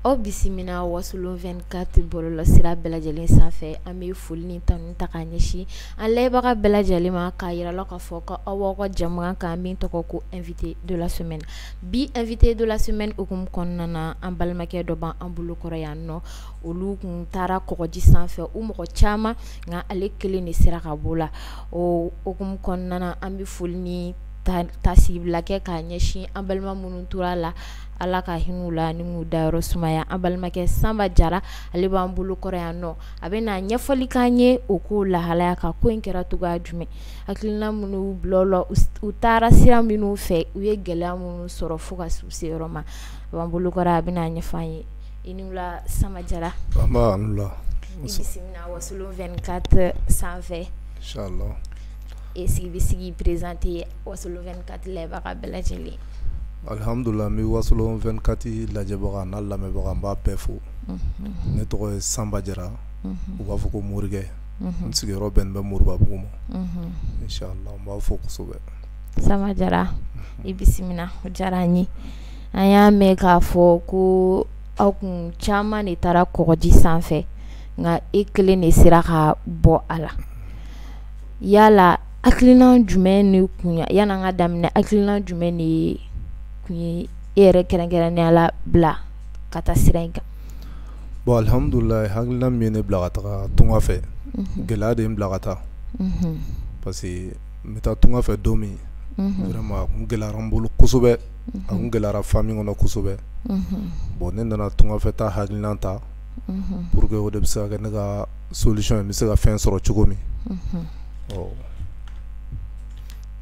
aw bisimila wasolon 24 bɔlɔlɔ sira bɛɛ lajɛlen sanfɛ an bɛ foli ni tanu ta k'a ɲɛsin an layɛbagaw bɛɛ lajɛlen ma k'a yira la k'a fɔ ko aw b'aw ka jɛmukan kan min tɔgɔ ko invité de la semaine Bi invité de la semaine hukumu kɔnɔna na an balimakɛ dɔ b'an bolo kɔrɔ yan nɔ olu kun taara kɔgɔji sanfɛ u mɔgɔ caman nka ale kelen de sera ka b'o la o hukumu kɔnɔna na an bɛ foli ni taasibila kɛ k'a ɲɛsin an balima minnu tora la Ala ka hin'u la ni k'u dayɔrɔ sumaya an balimakɛ Sanba Jara ale b'an bolo kɔrɔ yan nɔ a bɛna ɲɛfɔli k'an ye o ko lahalaya kan ko in kɛra cogoya jumɛn hakilina minnu y'u bila o la u taara sira minnu fɛ u ye gɛlɛya minnu sɔrɔ fo ka se u se yɔrɔ ma a b'an bolo kɔrɔ a bɛn'a ɲɛfɔ an ye i ni wula Sanba Jara nba i ni wula i bisimila Wasolon 24 sanfɛ inchallah e se k'i bɛ se k'i présenter Wasolon 24 layɛbaga bɛɛ lajɛlen alhamdulila n bɛ Wasolon 24 lajɛbaga an'a lamɛnbaga n b'a bɛɛ fo unhun ne tɔgɔ ye Sanba Jara unhun u b'a fɔ ko Morikɛ n sigiyɔrɔ bɛnnen bɛ Moribabugu ma inchallah n b'a fo kosɛbɛ Sanba Jara i bisimila o diyara an ye an y'a mɛn k'a fɔ ko aw kun caman de taara kɔgɔji sanfɛ nka e kelen de sera ka bɔ a la yala hakilina jumɛn de kun yan'an k'a daminɛ hakilina jumɛn de kun ye e yɛrɛ kɛrɛnkɛrɛnnenya la bila ka taa sira in kan bon alihamudulila hakilina min ye ne bila ka taga tunga fɛ gɛlɛya de ye n bila ka taa parce que n bɛ taa tunga fɛ don min vraiment a kun gɛlɛyara n bolo kosɛbɛ a kun gɛlɛyara famille kɔnɔ kosɛbɛ bon ne nana tunga fɛ taa hakilina ta pour que o de bɛ se ka kɛ ne ka solution ye n bɛ se ka fɛn sɔrɔ cogo min ɔ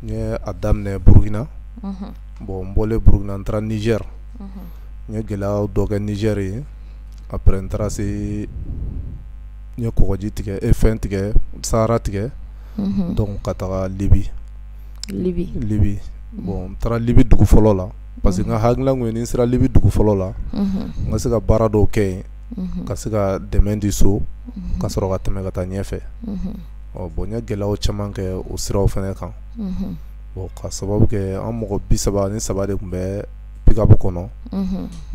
n ye a daminɛ Burukina bon n bɔlen Burukina n taara Nizɛri. n ye gɛlɛya dɔ kɛ Nizɛri yen après n taara se n ye kɔgɔji tigɛ e fɛn tigɛ Sahara tigɛ donc ka taga Libi Libi bon n taara libi dugu fɔlɔ la parce que n ka hakilina kun ye ni n sera libi dugu fɔlɔ la n ka se ka baara dɔw kɛ yen ka se ka dɛmɛ di so ka sɔrɔ ka tɛmɛ ka taa ɲɛfɛ ɔ bon n ye gɛlɛya caman kɛ o siraw fɛnɛ kan ka sababu kɛ an mɔgɔ bi saba ni saba de kun bɛ pick-up kɔnɔ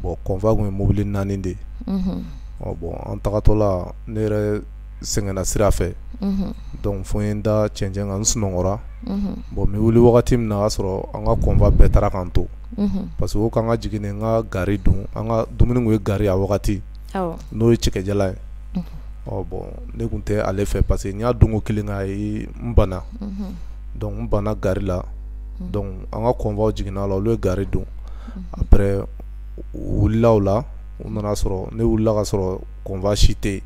bon convoi kun ye mobili naani de bon an tagatɔla ne yɛrɛ sɛgɛnna sira fɛ donc fo n ye n da cɛncɛn kan n sunɔgɔra bon n bɛ wuli wagati min na y'a sɔrɔ an ka convoi bɛɛ taara k'an to parce que ko k'an ka jigin n ka gari dun an ka dumuni kun ye gari a wagati n'o ye cɛkɛ jalan ye bon ne kun tɛ ale fɛ parce que n y'a dun ko kelen k'a ye n bana donc n banna gari la donc an ka convoi jiginna la olu ye gari dun après u wulila o la u nana sɔrɔ ne wulila ka sɔrɔ convoi si tɛ yen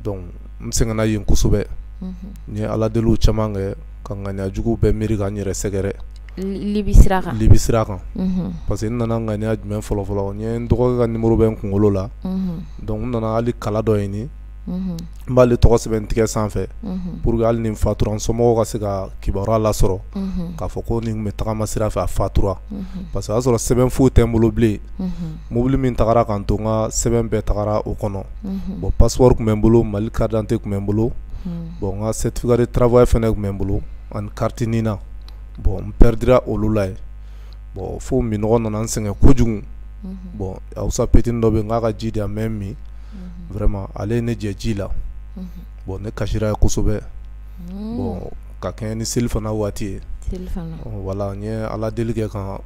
donc n sɛgɛnna yen kosɛbɛ n ye ala deli caman kɛ ka ŋaniyajugu bɛɛ miiri ka n yɛrɛ sɛgɛrɛ libi sira kan libi sira kan unhun parce que n nana ŋaniya jumɛn fɔlɔ fɔlɔ n ye n dɔgɔkɛ ka numéro bɛ n kunkolo la unhun donc n nana hali kala dɔ ɲini unhun n b'ale tɔgɔ sɛbɛn n tigɛ sanfɛ unhun pour que hali ni n fatura n somɔgɔw ka se ka kibaruya lasɔrɔ unhun k'a fɔ ko nin kun bɛ tagama sira fɛ a fatura unhun parce que o y'a sɔrɔ sɛbɛn foyi tɛ n bolo bilen unhun mobili min tagara k'an to n ka sɛbɛn bɛɛ tagara o kɔnɔ unhun bon passeport kun bɛ n bolo mali carte d'identité kun bɛ n bolo unhun bon n ka certificat de travail fɛnɛ kun bɛ n bolo ani carte nina bon n perdira olu la yen bon fo minnɔgɔ nana n sɛgɛn kojugu bon hausa petit dɔ bɛ n k'a ka ji di yan n bɛ min vraiment ale ye ne jɛ ji la bon ne kasira yen kosɛbɛ bon ka kɛɲɛ ni selifana waati ye voilà n ye ala deli kɛ ka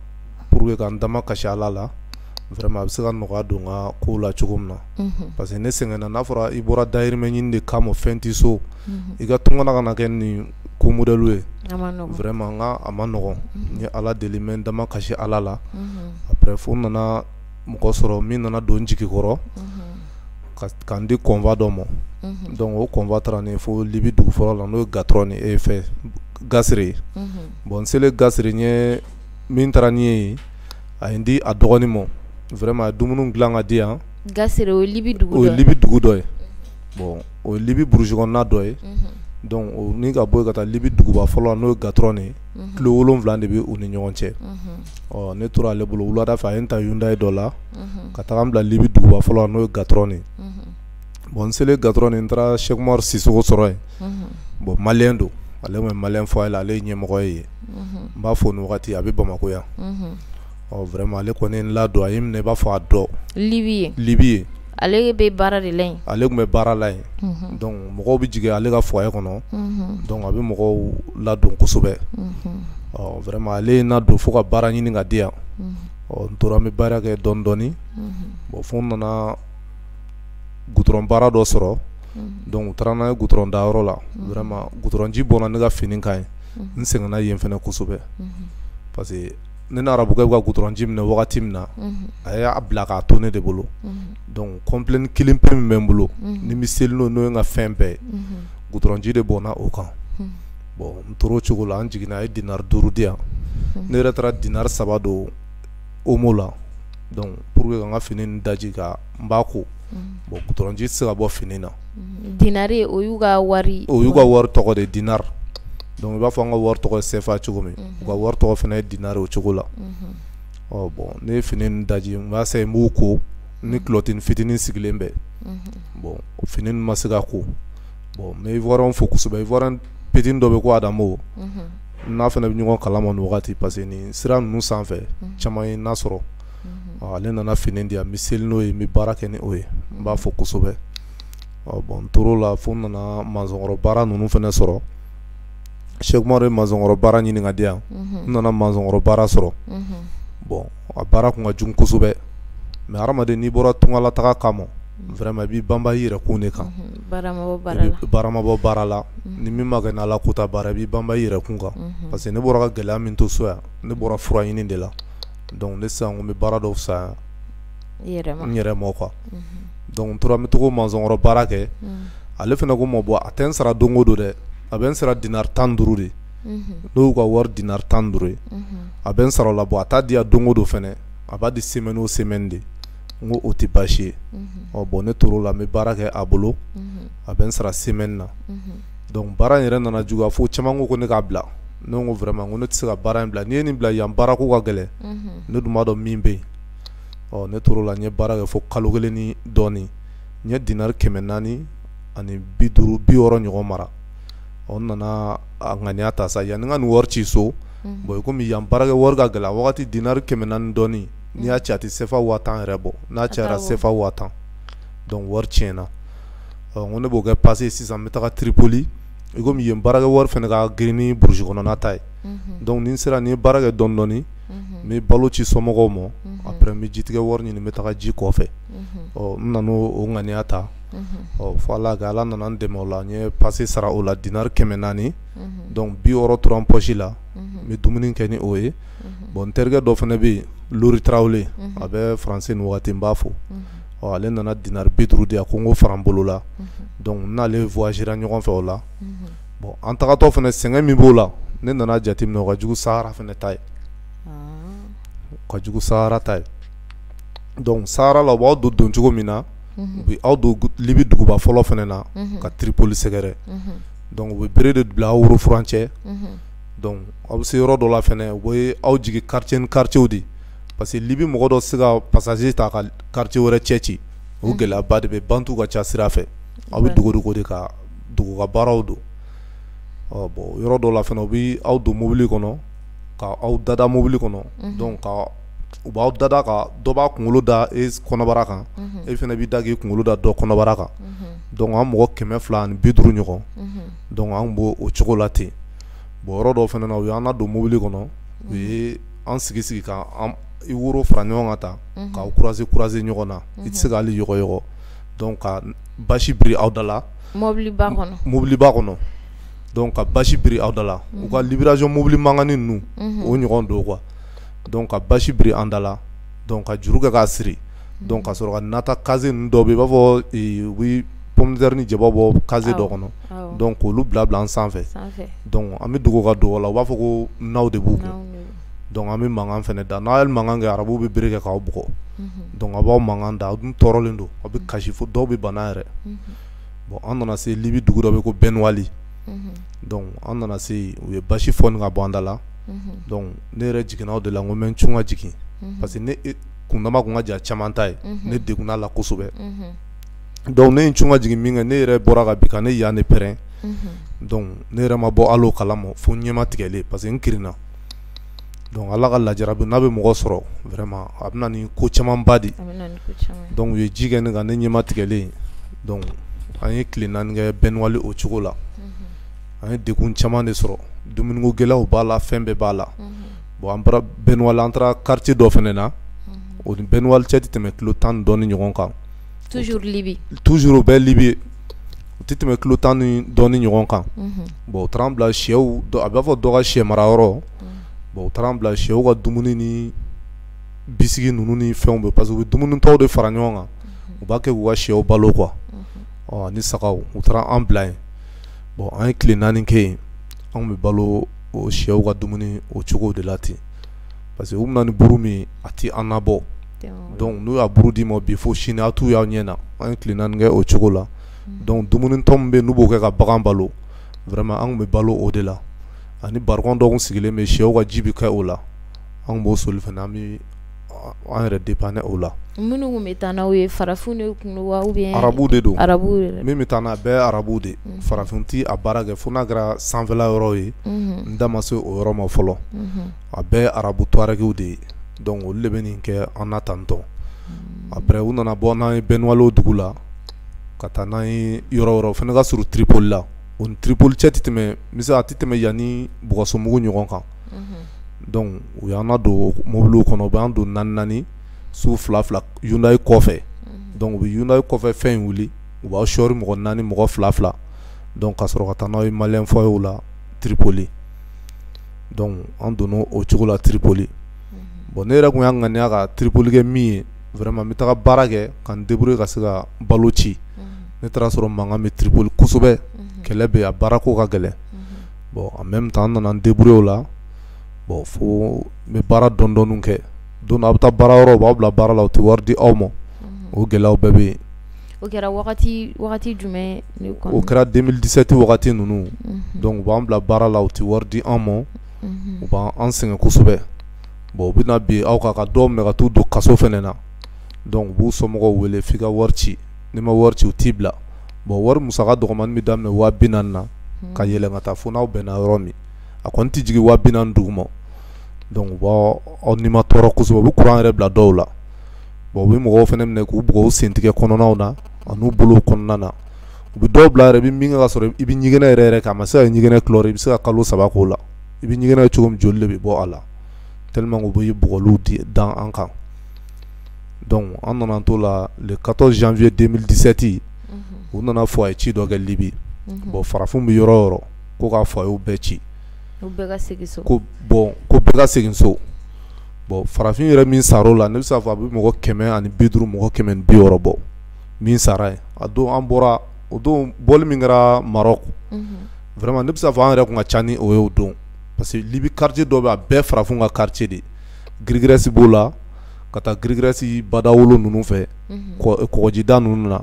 pour que ka n dama kasi ala la vraiment a bɛ se ka nɔgɔya don n ka ko la cogo min na parce que ne sɛgɛnna n'a fɔra i bɔra dahirimɛ ɲini de kama fɛn tɛ so i ka tunkanna ka na kɛ nin ko modèle ye vraiment nka a man nɔgɔn n ye ala deli n bɛ n dama kasi ala la après fo n nana mɔgɔ sɔrɔ min nana don n jigi kɔrɔ ka n di convoi dɔ ma donc o convoi taara ni n ye fo libi dugu fɔlɔ la n'o ye gatrɔni enfin gasire ye bon n selen gasire yen min taara ni n ye a ye n di a dɔgɔnin ma vraiment a ye dumuni dilan ka di yan libi dugu dɔ ye bon o ye libi burusi kɔnɔna dɔ ye donc ka bɔ yen ka taa libi duguba fɔlɔ la n'o ye gatrɔni ye kilo wolonwula de bɛ u ni ɲɔgɔn cɛ ɔ ne tora ale bolo wulada fɛ a ye n ta hyundai dɔ la ka taga n bila libi duguba fɔlɔ la n'o ye gatrɔni ye bon n selen gatrɔni n taara seku umaru sisɔkɔ sɔrɔ yen bon malien don ale tun bɛ malien foyer la ale ye ɲɛmɔgɔ ye n b'a fɔ nin wagati a bɛ bamakɔ yan Ɔ vraiment ale kɔni ye n ladon a ye n minɛ i b'a fɔ a dɔgɔ Libi yen Libi yen ale be baara de la yen ale kun be baara la yen unhun donc mɔgɔw be jigin ale ka foyer kɔnɔ unhun donc a be mɔgɔw ladon kosɛbɛ unhun ɔ vraiment ale ye n ladon fo ka baara ɲini ka di yan unhun ɔ n tora n be baara kɛ dɔni dɔni unhun bon fo n nana goudron baara dɔ sɔrɔ unhun donc u taara n'an ye goudron da yɔrɔ la unhun vraiment goudron ji bɔnna ne ka fini kan yen unhun n sɛgɛnna yen fɛnɛ kosɛbɛ unhun parce que ne ni arabukɛ bɛ ka goudron ji minɛ wagati min na a y'a bila k'a to ne de bolo dɔnku complet kelen pe min bɛ n bolo ni n bɛ seli n'o ye n ka fɛn bɛɛ goudron ji de bɔnna o kan bɔn n tora o cogo la an jiginna a ye dinari duuru di yan ne yɛrɛ taara dinari saba don omo la donc pour que ka n ka fini nin daji kan n b'a ko bon goudron ji tɛ se ka bɔ fini na dinari o y'u ka wari o y'u ka wari tɔgɔ de dinari dɔnku i b'a fɔ an ka wari tɔgɔ sefa cogo min u ka wari tɔgɔ fana ye dinari o cogo la ɔ bɔn ne ye fini daji n b'a essayer n b'u ko ni kulɔtini fitinin sigilen bɛ bɔn fini ma se ka ko bɔn n bɛ ivoirien fo kosɛbɛ ivoirien petini dɔ bɛ ko adamu n'a fana bɛ ɲɔgɔn kalama nin wagati parce que ni sira ninnu sanfɛ caman ye n'a sɔrɔ mhm. ale nana fini di yan n bɛ seli n'o ye n bɛ baara kɛ ni o ye n b'a fo kosɛbɛ bɔn n tor'o la fo n nana masɔnkɔrɔ baara ninnu fana sɔrɔ sɛku umaru ye masɔnkɔrɔ baara ɲini ka di yan mhm. n nana masɔnkɔrɔ baara sɔrɔ mhm. bɔn a baara tun ka jugu kosɛbɛ mais hadamaden n'i bɔra tungalataga kama vraiment i b'i banba i yɛrɛ kun de kan baara ma bɔ baara la ni min ma kɛ ni ala kota baara i b'i banba i yɛrɛ kun kan parce que ne bɔra ka gɛlɛya min to so yan ne bɔra fura ɲini de la donc ne sisan ko n bɛ baara dɔw fisaya n yɛrɛ ma quoi donc n tora n bɛ to k'o mansɔnkɔrɔ baara kɛ ale fana ko n ma bon a tɛ n sara don o don dɛ a bɛ n sara dinari tan ni duuru de n'o y'u ka wari dinari tan ni duuru ye a bɛ n sara o la bon a t'a di yan don o don fana a b'a di semaine o semaine de n ko o tɛ baasi ye ɔ bon ne tor'o la n bɛ baara kɛ a bolo a bɛ n sara semaine na. donc baara in yɛrɛ nana juguya fo caman ko ko ne k'a bila ne ko vraiment ko ne tɛ se ka baara in bila n'i ye nin bila yan baara ko ka gɛlɛn ne dun b'a dɔn min bɛ yen ɔ ne tor'o la n ye baara kɛ fo kalo kelen ni dɔɔnin n ye dinari kɛmɛ naani ani bi duuru bi wɔɔrɔ ɲɔgɔn mara ɔ n nana a ŋaniya ta sa yanni n ka nin wari ci so bon i komi yan baarakɛ wari ka gɛlɛn a wagati dinari kɛmɛ naani dɔɔnin n'i y'a ci a tɛ sefa waa tan yɛrɛ bɔ n'a cayara sefa waa tan donc wari tiɲɛna ko ne b'o kɛ pase sisan n bɛ taa tripoli i komi yen baarakɛ wari fana ka girin ni burusi kɔnɔna ta ye dɔnku ni n sera ni n ye baara kɛ dɔɔni dɔɔni n bɛ balo ci somɔgɔw ma après n bɛ jitigɛ wari ɲini n bɛ taa ji kɔfɛ ɔ n nana o ŋaniya ta ɔ fo ala ka ala nana n dɛmɛ o la n ye pase sara o la dinari kɛmɛ naani dɔnku bi wɔɔrɔ tora n pɔsi la n bɛ dumuni kɛ ni o ye bɔn n terikɛ dɔ fana bɛ yen lori tarawele a bɛ faransi nin waati n b'a fo ɔ ale nana dinar bi duuru di ko n k'o fara n bolo la n n'ale voyagera ɲɔgɔn fɛ o la bon an tagatɔ fana sɛgɛn min b'o la ne nana jateminɛ o ka jugu Sahara fana ta ye ka jugu Sahara ta ye donc Sahara la u b'aw don don cogo min na u bɛ aw don libi duguba fɔlɔ fana na ka Tripoli sɛgɛrɛ donc u bɛ bere de bila aw woro furancɛ aw bɛ se yɔrɔ dɔ la fana u b'aw jigin quartier ni quartierw de parce que Libye mɔgɔ dɔ tɛ se ka passager ta ka quartier wɛrɛ cɛ ci, o gɛlɛyaba de bɛ yen bandiw ka ca sira fɛ, aw bɛ dogo dogo de ka dogo ka baaraw don, ɔ bon yɔrɔ dɔw la fana u bɛ aw don mobili kɔnɔ ka aw dada mobili kɔnɔ, unhun, donc ka u b'aw dada ka dɔ b'a kunkolo da e kɔnɔbara kan, unhun, e fana b'i da k'i kunkolo da dɔ kɔnɔbara kan, unhun, donc an mɔgɔ 250 ɲɔgɔn, unhun, donc an tun b'o cogo la ten, bon yɔrɔ dɔw fana na u y'an ladon mobili kɔnɔ u ye an sigi sigi k' i woro fara ɲɔgɔn kan tan k'a croiser croiser ɲɔgɔn na i tɛ se ka hali yɔgɔyɔgɔ donc ka basi biri aw da la mobili mobiliba kɔnɔ donc ka basi biri aw da la u ka livraison mobili mankani ninnu o ɲɔgɔn don quoi donc ka basi biri an da la donc ka juru kɛ k'a siri donc ka sɔrɔ ka na ta caisse ninnu dɔ bɛ yen i b'a fɔ u bɛ pomme de terre ni jaba bɔ caisse dɔ kɔnɔ donc k'olu bila bila an sanfɛ an bɛ dogo ka dogo la u b'a fɔ ko naw de b'u kun donc an bɛ mankan fana da n'aw ye mankan kɛ arabuw bɛ bere kɛ k'aw bugɔ donc aw b'aw mankan da aw dun tɔɔrɔlen don aw bɛ kasi fo dɔw bɛ bana yɛrɛ bon an nana se libi dugu dɔ bɛ ko Bɛniwali an nana se u ye basi foni ka bɔ an da la ne yɛrɛ jiginna o de la n ko n bɛ n cun ka jigin parce que kundama tun ka jan caman ta ye ne degunna a la kosɛbɛ donc ne ye n cun ka jigin min kɛ ne yɛrɛ bɔra ka bin ka ne yan de pɛrɛn ne yɛrɛ ma bɔ hali a kalama fo ɲɛma tigɛlen parce que n kirinna donc ala ka lajarabi n'a bɛ mɔgɔ sɔrɔ vraiment a bɛ na ni ko camanba de donc u ye ji kɛ ne kan ne ɲɛma tigɛlen an ye tile naani kɛ Bɛniwali o cogo la an ye degun caman de sɔrɔ dumuniko gɛlɛyaw b'a la fɛn bɛɛ b'a la bon an bɔra Bɛniwali an taara quartier dɔ fana na, unhun, o ni Bɛniwali cɛ tɛ tɛmɛ kilo tan ni dɔɔnin ɲɔgɔn kan, toujours Libye, toujours o bɛ Libye o tɛ tɛmɛ kilo tan ni dɔɔnin ɲɔgɔn kan, unhun, bon u taara an bila shɛw a b'a fɔ dɔ ka shɛ mara yɔrɔ, bon u taara an bila shɛw ka dumuni ni bisiki ninnu ni fɛnw bɛ parce que u bɛ dumuni tɔw de fara ɲɔgɔn kan u b'a kɛ k'u ka shɛw balo quoi ɔ ani sagaw u taara an bila yen bon an ye tile naani kɛ yen anw bɛ balo o shɛw ka dumuni o cogo de la ten parce que u bɛ na ni buru min a tɛ an nabɔ donc n'u y'a buru d'i ma bi fo sini a t'u y'a ɲɛ na an ye tile naani kɛ o cogo la donc dumunitɔ min bɛ n'u b'o kɛ ka bagan balo vraiment anw bɛ balo o de la ani barikɔn dɔ kun sigilen bɛ shɛw ka ji bɛ kɛ o la anw b'o soli fana an bɛ an yɛrɛ dépanner o la minnu bɛ taa n'aw ye farafin de kun don wa ou bien arabu de don arabu min bɛ taa n'a bɛɛ arabu de farafin tɛ a baara kɛ fo n'a kɛra sanfɛla yɔrɔ ye n da ma se o yɔrɔ ma fɔlɔ a bɛɛ arabu tuarɛgiw de ye donc olu de bɛ nin kɛ an na tantɔn après u nana bɔ n'an ye bɛniwali dugu la ka taa n'an ye yɔrɔ yɔrɔ fana ka surun tripoli la o ni tripoli cɛ tɛ tɛmɛ misali a tɛ tɛmɛ yan ani bulkasumbugu ɲɔgɔn kan donc u y'an nadon mobili kɔnɔ u b'an don naani naani su fila fila hyundai kɔfɛ donc u bɛ hyundai kɔfɛ fɛn in wuli u b'aw sɔɔri mɔgɔ naani mɔgɔ fila fila ka sɔrɔ ka taa n'aw ye malien foyer la tripoli an donna o cogo la tripoli bon ne yɛrɛ kun y'a ŋaniya ka tripoli kɛ min ye vraiment n bɛ taga baara kɛ ka n débrouiller ka se ka balo ci ne taar'a sɔrɔ mankan bɛ tripoli kosɛbɛ kɛlɛ bɛ a baara ko ka gɛlɛn bon en même temps n nana n débrouiller o la bon fo n be baara dɔɔnin dɔɔninw kɛ don dɔ a' be taa baara yɔrɔ u b'aw bila baara la u te wari di aw ma unhun o gɛlɛyaw bɛɛ be yen o kɛra wagati wagati jumɛn ne kɔn o kɛra 2017 wagati ninnu unhun donc u b'an bila baara la u te wari di an mɔ unhun u b'an sɛgɛn kosɛbɛ bon u be na bin aw kan ka dɔw minɛ ka t'u don kaso fɛnɛ na donc u b'u somɔgɔw wele f'i ka wari ci n'i ma wari ci u t'i bila bon wari musaka dɔgɔmanin bɛ daminɛ waa bi naani na ka yɛlɛn ka taa fo n'aw bɛnna yɔrɔ min a kɔni tɛ jigin waa bi naani duguma donc u b'aw nimatɔɔrɔ kosɛbɛ u bɛ kuran yɛrɛ bila dɔw la bon u bɛ mɔgɔw fana minɛ k'u bugɔ u sentigɛ kɔnɔna na ani'u bolo kɔnɔna na u bɛ dɔw bila yɛrɛ i bɛ min kɛ ka sɔrɔ i bɛ ɲɛgɛnɛ yɛrɛ yɛrɛ k'a ma se ka ɲɛgɛnɛ kɛ i bɛ se ka kalo saba k'o la i bɛ ɲɛgɛnɛ cogo min joli de bɛ bɔ a la tellement u bɛ bugɔli de da an kan donc an nana t'o la le quatorze janvier deux mille dix-sept u nana fɔ a ye ci dɔ kɛ libi bon farafin bɛ yɔrɔ o yɔrɔ ko k'a fɔ a y'u bɛɛ ci ko bon ko bɛɛ ka segin so bon farafin yɛrɛ min sar'o la ne bɛ se k'a fɔ a bɛ mɔgɔ kɛmɛ ani bi duuru mɔgɔ kɛmɛ ni bi wɔɔrɔ bɔ min sara yen a don an bɔra o don bɔ min kɛra mara vraiment ne bɛ se k'a fɔ an yɛrɛ kun ka ca ni o ye o don parce que libi quartier dɔ bɛ a bɛɛ farafin ka quartier de girigɛrɛsi b'o la ka taa girigɛrɛsi bada wolo ninnu fɛ kɔgɔjida ninnu na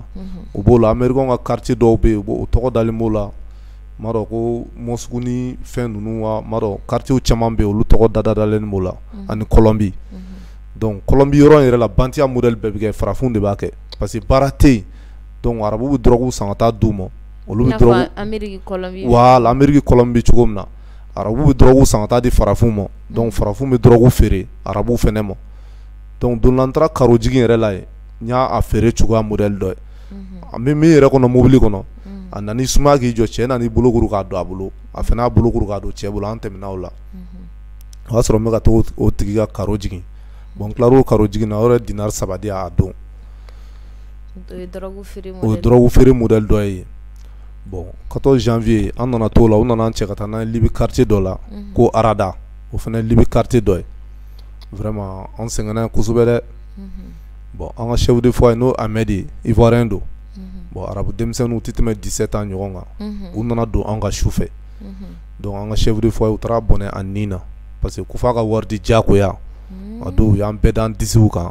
u b'o la ameriki ka quartier dɔw bɛ yen o tɔgɔ dalen b'o la n m'a dɔn ko moscou ni fɛn ninnu wa n m'a dɔn quartier caman bɛ yen olu tɔgɔ dalen b'o la ani kɔlɔnbi donc kɔlɔnbi yɔrɔ yɛrɛ la bandiya modèle bɛɛ bɛ kɛ farafin de b'a kɛ parce que baara tɛ yen arabuw bɛ drogue san ka taa di u ma olu bɛ voilà ameriki bɛ cogo min na arabu bɛ dɔrɔgu san ka taa di farafinw ma donc farafinw bɛ dɔrɔgu feere arabuw fana ma donc don dɔ la n taara karo jigin yɛrɛ la yen n y'a feere cogoya modèle dɔ ye an bɛ min yɛrɛ kɔnɔ mobili kɔnɔ a nana i sumaya k'i jɔ cɛ nana i bolo kuru k'a don a bolo a fana y'a bolo kuru k'a don cɛ bolo an tɛmɛna o la o y'a sɔrɔ n bɛ ka taa o tigi ka karo jigin bon n tilar'o karo jigin na o yɛrɛ ye dinari saba di yan a don o ye dɔrɔgu feere modèle dɔ ye yen bon 14 janvier an nana t'o la u nana an cɛ ka taa n'an ye libi quartier dɔ la mhm. ko arada o fana ye libi quartier dɔ ye vraiment an sɛgɛnna kosɛbɛ dɛ mhm. bon an ka chef de foyer n'o Ahmed ye ivoirien don mhm. bon arabu denmisɛnninw tɛ tɛmɛ 17 ans ɲɔgɔn kan u nana don an kan su fɛ donc an ka chef de foyer u taara bɔnɛ a nin na parce que ko f'a ka wari di diyagoya a don u y'an bɛɛ d'an disiw kan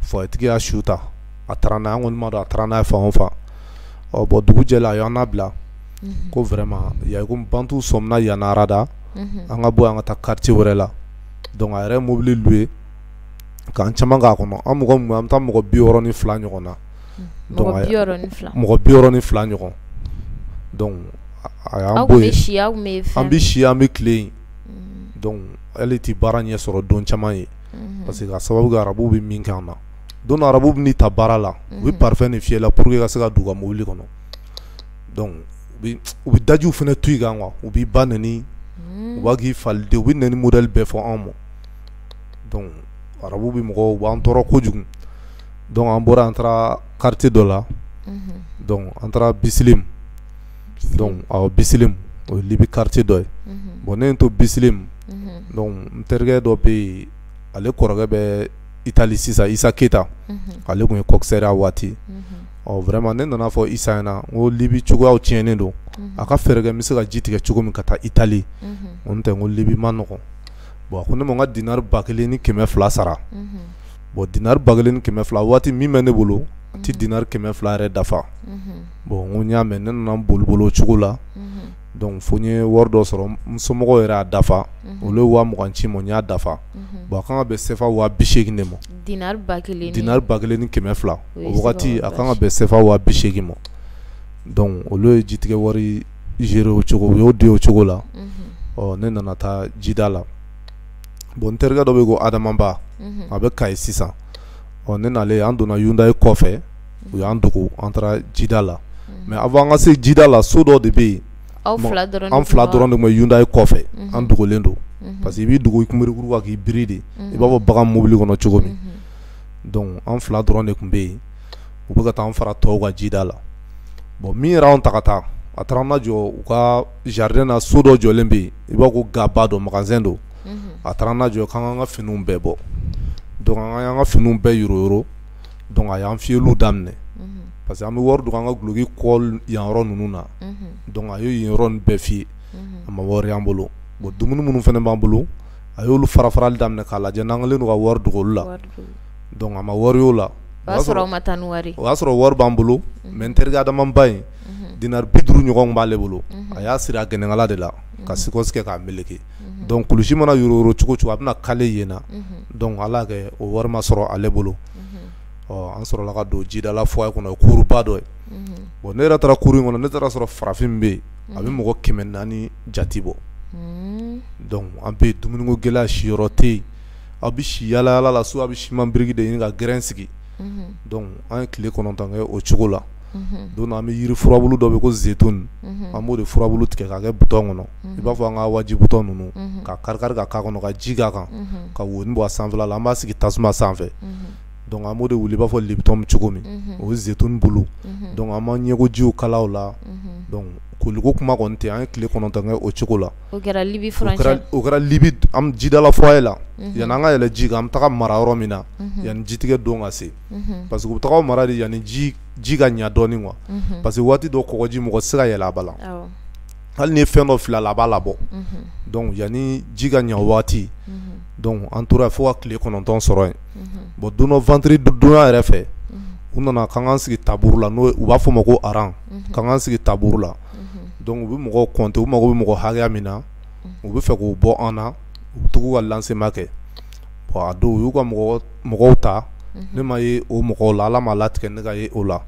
foyetigi y'a su ta a taara n'a ye an kɔni ma dɔn a taara n'a ye fan o fan bon dugu jɛla a y'an labila ko vraiment ya ko bantu sɔmina yan arada an ka bɔ an ka taa quartier wɛrɛ la donc a yɛrɛ mobili louer k'an caman k'a kɔnɔ an mɔgɔ an bɛ taa mɔgɔ bi wɔɔrɔ ni fila ɲɔgɔn na mɔgɔ bi wɔɔrɔ ni fila ɲɔgɔn an bɛ si an bɛ tile yen donc hali i tɛ baara ɲɛ sɔrɔ don caman ye Mhm. Parce que ka sababu kɛ arabuw bɛ min kɛ an na don dɔ arabuw bɛna i ta baara la u bɛ mhm. parfum de fiyɛ i la pour que i ka se ka don u ka mobili kɔnɔ donc u bɛ dajiw fana tu i kan quoi u b'i ba nɛni mhm. u b'a k'i faliden u bɛ nɛni modèle bɛɛ fɔ anw ma donc arabuw bɛ mɔgɔw u b'an tɔɔrɔ kojugu donc an bɔra an taara quartier dɔ la donc an taara Bisilim bisilim o ye libi quartier dɔ ye bon ne to bisilim donc n terikɛ dɔ bɛ yen ale kɔrɔkɛ bɛ itali sisan isa keyita ale tun ye coxeur ye a waati ɔ vraiment ne nana a fɔ isa ɲɛna ko libi cogoyaw tiɲɛnen don a ka fɛɛrɛ kɛ n bɛ se ka ji tigɛ cogo min ka taa itali n tɛ n ko libi man nɔgɔ bon a ko ne ma n ka dinari ba kelen ni kɛmɛ fila sara bon dinari ba kelen kɛmɛ fila waati min bɛ ne bolo a tɛ dinari kɛmɛ fila yɛrɛ dafa bon n ko n y'a mɛn ne nana boli boli o cogo la donc fo n ye wari dɔ sɔrɔ n somɔgɔw yɛrɛ y'a dafa olu ye waa mugan ci n ma n y'a dafa bon a kan ka bɛn sefa waa bi seegin de ma dinari ba kelen ni kɛmɛ fila wagati a kan ka bɛn sefa waa bi seegin ma donc olu ye jitigɛ wari gérer o cogo u y'o di o cogo la ɔ ne nana taa jida la bon n terikɛ dɔ bɛ ko adamaba a bɛ kayi sisan ɔ ne nalen an donna hyundai kɔfɛ u y'an dogo an taara jida la mais avant an ka se jida la so dɔ de bɛ yen an fila dɔrɔn de bɛ hyundai kɔfɛ an dogolen don parce que i b'i dogo i kunberekuru kan k'i biri de i b'a fɔ bagan mobili kɔnɔ cogo min donc an fila dɔrɔn de tun bɛ yen u bɛ ka taa an fara tɔw kan jida la bon min y'an ta ka taa a taara an ma jɔ u ka jardin na so dɔ jɔlen bɛ yen i b'a fɔ ko gaba dɔ magasin dɔ a taara an jɔ k'an k'an ka finiw bɛɛ bɔ donc an y'an ka finiw bɛɛ yoro donc a y'an fiyɛli daminɛ parce que an bɛ wari don an ka gloki col yan yɔrɔ ninnu na donc a y'o yɔrɔ bɛɛ fiyɛ a ma wari y'an bolo bon dumuni minnu fana b'an bolo a y'olu fara farali daminɛ k'a lajɛ n'an kɛlen don ka wari dogo olu la donc a ma wari y'o la o y'a sɔrɔ wari b'an bolo mais n terikɛ adamaba in dinari bi duuru ɲɔgɔn b'ale bolo a y'a siri a gɛnɛkala de la ka sikɔsi kɛ k'a meleke donc kulusi mana yoro cogo cogo a bɛna kale yen na donc ala kɛ o wari ma sɔrɔ ale bolo ɔ an sɔrɔla ka don jidala foyer kɔnɔ kuruba dɔ ye bon ne yɛrɛ taara kuru in kɔnɔ ne taara sɔrɔ farafin bɛ yen a bɛ mɔgɔ kɛmɛ naani jate bɔ an bɛ dumuniko gɛlɛya siyɔrɔ tɛ yen aw bɛ si yaalayaala so a bɛ siman biriki de ɲini ka gɛrɛn sigi an ye tile kɔnɔntɔn kɛ o cogo la donc an bɛ yiri furabulu dɔ bɛ ko zeytun an b'o de furabulu tigɛ k'a kɛ butɔn kɔnɔ i b'a fɔ an ka waji butɔn ninnu k'a kari ka k'a kɔnɔ ka ji k'a kan ka wo bɔ a sanfɛla la an b'a sigi tasuma sanfɛ an b'o de wuli i b'a fɔ lipton cogo min o ye zeytun bulu an b'an ɲɛkojiw kala o la koliko kuma kɔni tɛ an ye tile kɔnɔntɔn kɛ o cogo la o kɛra jidala foyer la yani an ka yɛlɛ ji kan an bɛ taga mara yɔrɔ min na yani jitigɛ don ka se parce que u bɛ taa mara de yani ji ka ɲa dɔɔni quoi parce que waati dɔ kɔgɔji mɔgɔ tɛ se ka yɛlɛ a ba la hali n'i ye fɛn dɔ fili a la a b'a labɔ yani ji ka ɲa waati an tora fo ka tile kɔnɔntɔn sɔrɔ yen bon don dɔ vendredi donya yɛrɛ fɛ u nana k'an k'an sigi taburu la n'o u b'a fɔ o ma ko aran k'an k'an sigi taburu la u bɛ mɔgɔ kɔnte u mago bɛ mɔgɔ hakɛya min na u bɛ fɛ k'o bɔ an na u bɛ tugu ka lancement kɛ a don u y'u ka mɔgɔw ta ne ma ye o mɔgɔw la ala m'a latigɛ ne ka ye o la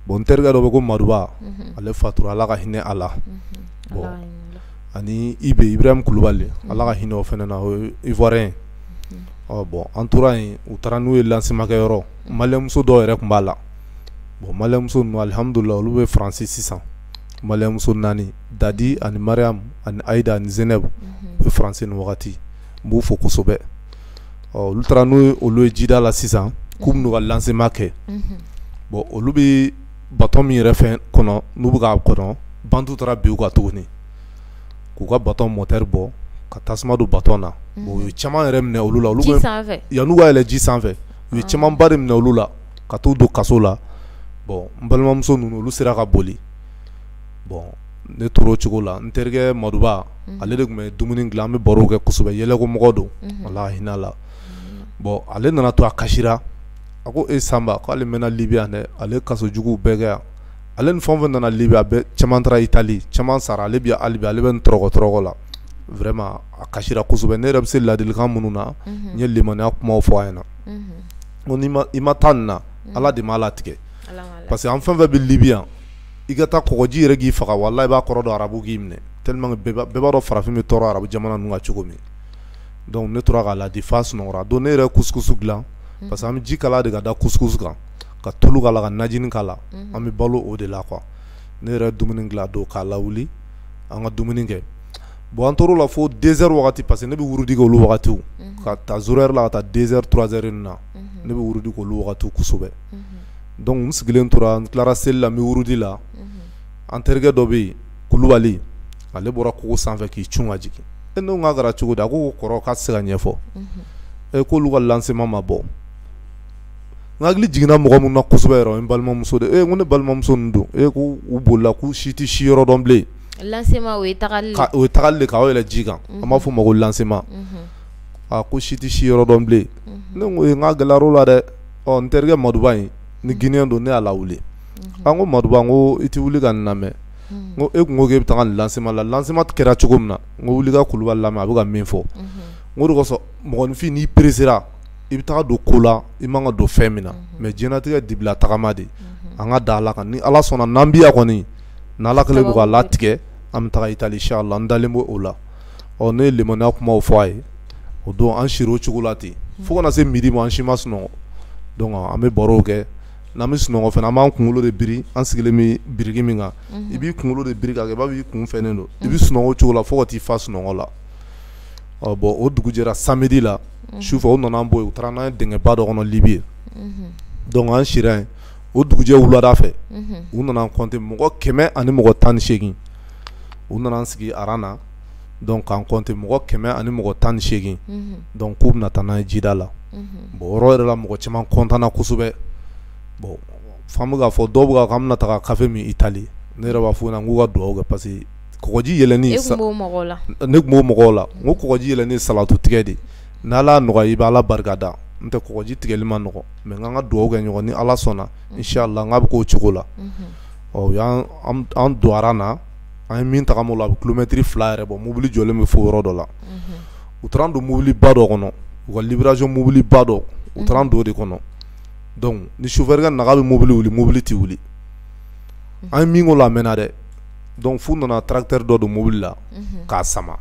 bon n terikɛ dɔ bɛ ko maduba ale fatura ala ka hinɛ a la ani ibrahim kulubali ala ka hinɛ o fana na o ye ivoirien bon an tora yen u taara n'u ye lancement kɛ yɔrɔ malien muso dɔw yɛrɛ tun b'a la bon malien muso ninnu alihamdulila olu bɛ faransi sisan malien muso naani dadi ani mariam ani ayida ani zɛnɛba u bɛ faransi nin wagati n b'u fo kosɛbɛ ɔ olu taara n'olu ye jida la sisan k'u bɛ n'u ka lancement kɛ bon olu bɛ baton min yɛrɛ fɛn kɔnɔ n'u bɛ k'a kɔnɔ bandiw taara bin u kan tuguni k'u ka baton moteur bɔ ka tasuma don baton na bon u ye caman yɛrɛ minɛ olu la olu bɛ ji sanfɛ yan'u ka yɛlɛ ji sanfɛ u ye camanba de minɛ olu la ka t'u don kaso la bon n balimamuso ninnu olu sera ka boli bon ne tora o cogo la n terikɛ maduba ale de tun bɛ dumuni dilan an bɛ baro kɛ kosɛbɛ yɛlɛkomɔgɔ don ala hinɛ a la bon ale nana to a kasi a ko e sanba k'ale mɛnna libi yan dɛ ale kaso jugu bɛɛ kɛ yan ale ni fɛn fɛn nana libi a bɛɛ caman taara itali caman sara ale bɛ ale ale bɛ tɔɔrɔko la vraiment a kasi kosɛbɛ ne yɛrɛ bɛ se ladilikan minnu na n ye limaniya kuma fɔ a ɲɛna ni i ma taa nin na ala de m'a latigɛ parce que an fɛn fɛn bɛ libi yan i ka taa kɔgɔji yɛrɛ k'i faga walahi i b'a kɔrɔ dɔn arabuw k'i minɛ tellement que bɛɛ b'a bɛɛ b'a dɔn farafin bɛ tɔɔrɔ arabu jamana ninnu na cogo min donc ne tora k'a laadi f'a sunɔgɔra donc ne yɛrɛ ye couscous dilan unhun parce que an bɛ ji kalaya de ka da couscous kan ka tulu k'a la ka najini k'a la unhun an bɛ balo o de la quoi ne yɛrɛ ye dumuni dilan a don k'a lawuli an ka dumuni kɛ bon an tor'o la fo deux heures wagati parce que ne bɛ wurudi kɛ olu wagatiw unhun ka ta zéro heure la ka taa deux heures trois heures nin na unhun ne bɛ wurudi k'olu wagatiw kosɛbɛ unhun donc n sigilen tora n tilara seli la n bɛ wurudi la an terikɛ dɔ bɛ yen kulubali ale bɔra kogo sanfɛ k'i cun ka jigin ne ko k'a kɛra cogo di a ko kɔrɔ k'a tɛ se ka ɲɛfɔ e k'olu ka lancement ma bɔ n hakili jiginna mɔgɔ min na kosɛbɛ o ye n balimamuso de e ko ne balimamuso don e ko u bolila k'u si tɛ si yɔrɔ dɔn bilen lancement o ye tagali de k'aw yɛlɛ ji kan an b'a fɔ o ma ko lancement a ko si tɛ si yɔrɔ dɔn bilen ne ko n k'a gɛlɛyara o la dɛ ɔ n terikɛ maduba in ni guinéen don ne y'a lawuli an ko maduba n ko i tɛ wuli ka nin lamɛn ko e tun ko e bɛ taga nin lancement la lancement kɛra cogo min na n ko wuli ka kuluba lamɛn a bɛ ka min fɔ n k'o de kosɔn mɔgɔninfin n'i peresera i bɛ taga don ko la i man ka don fɛn min na mais diɲɛlatigɛ dibila tagama de an ka da ala kan ni ala sɔnna n'an bɛ yan kɔni ni ala kɛlen don k'a latigɛ an bɛ taga itali inchallah n dalen b'o la ɔ ne ye limaniya kumaw fɔ a ye o don an sira o cogo la ten fo ka na se midi ma an si ma sunɔgɔ donc an bɛ barow kɛ n'an bɛ sunɔgɔ fana an b'an kunkolo de biri an sigilen bɛ biriki min kan i b'i kunkolo de biri k'a kɛ i b'a fɔ i kun fɛnnen don i bɛ sunɔgɔ o cogo la fo ka t'i fa sunɔgɔ la ɔ bon o dugu jɛra samedi la sufɛ u nana an bɔ yen u taara n'an ye dingɛba dɔ kɔnɔ Libi yen donc an sira yen o dugujɛ wulada fɛ u nana an compter mɔgɔ kɛmɛ ani mɔgɔ tan ni seegin u nana an sigi aran na donc k'an compter mɔgɔ kɛmɛ ani mɔgɔ tan ni seegin donc k'u bɛna taa n'an ye jida la bon o yɔrɔ yɛrɛ la mɔgɔ caman kɔntanna kosɛbɛ bon fan bɛ k'a fɔ dɔw bɛ k'an bɛna taa kafe min itali ne yɛrɛ b'a fɔ n k'u ka dugawu kɛ parce que kɔgɔji yɛlɛ ne tun b'o mɔgɔw la n ko kɔgɔji yɛlɛnni salatu tigɛ de n'ala nɔgɔya i bɛ ala barika da n tɛ kɔgɔji tigɛli man nɔgɔ mais an ka dugawu kɛ ɲɔgɔn ni ala sɔnna inchallah n k'a bɛ k'o cogo la u y'an don aran na an ye min tagama o la a bɛ kilomɛtiri fila yɛrɛ bɔ mobili jɔlen bɛ fo yɔrɔ dɔ la u taara an don mobiliba dɔ kɔnɔ u ka livraison mobiliba dɔ u taara an don o de kɔnɔ ni chauffeur yɛrɛ ka na k'a bɛ mobili wuli mobili tɛ wuli an ye min k'o la a mɛnna dɛ donc f'u nana tracteur dɔ don mobili la k'a sama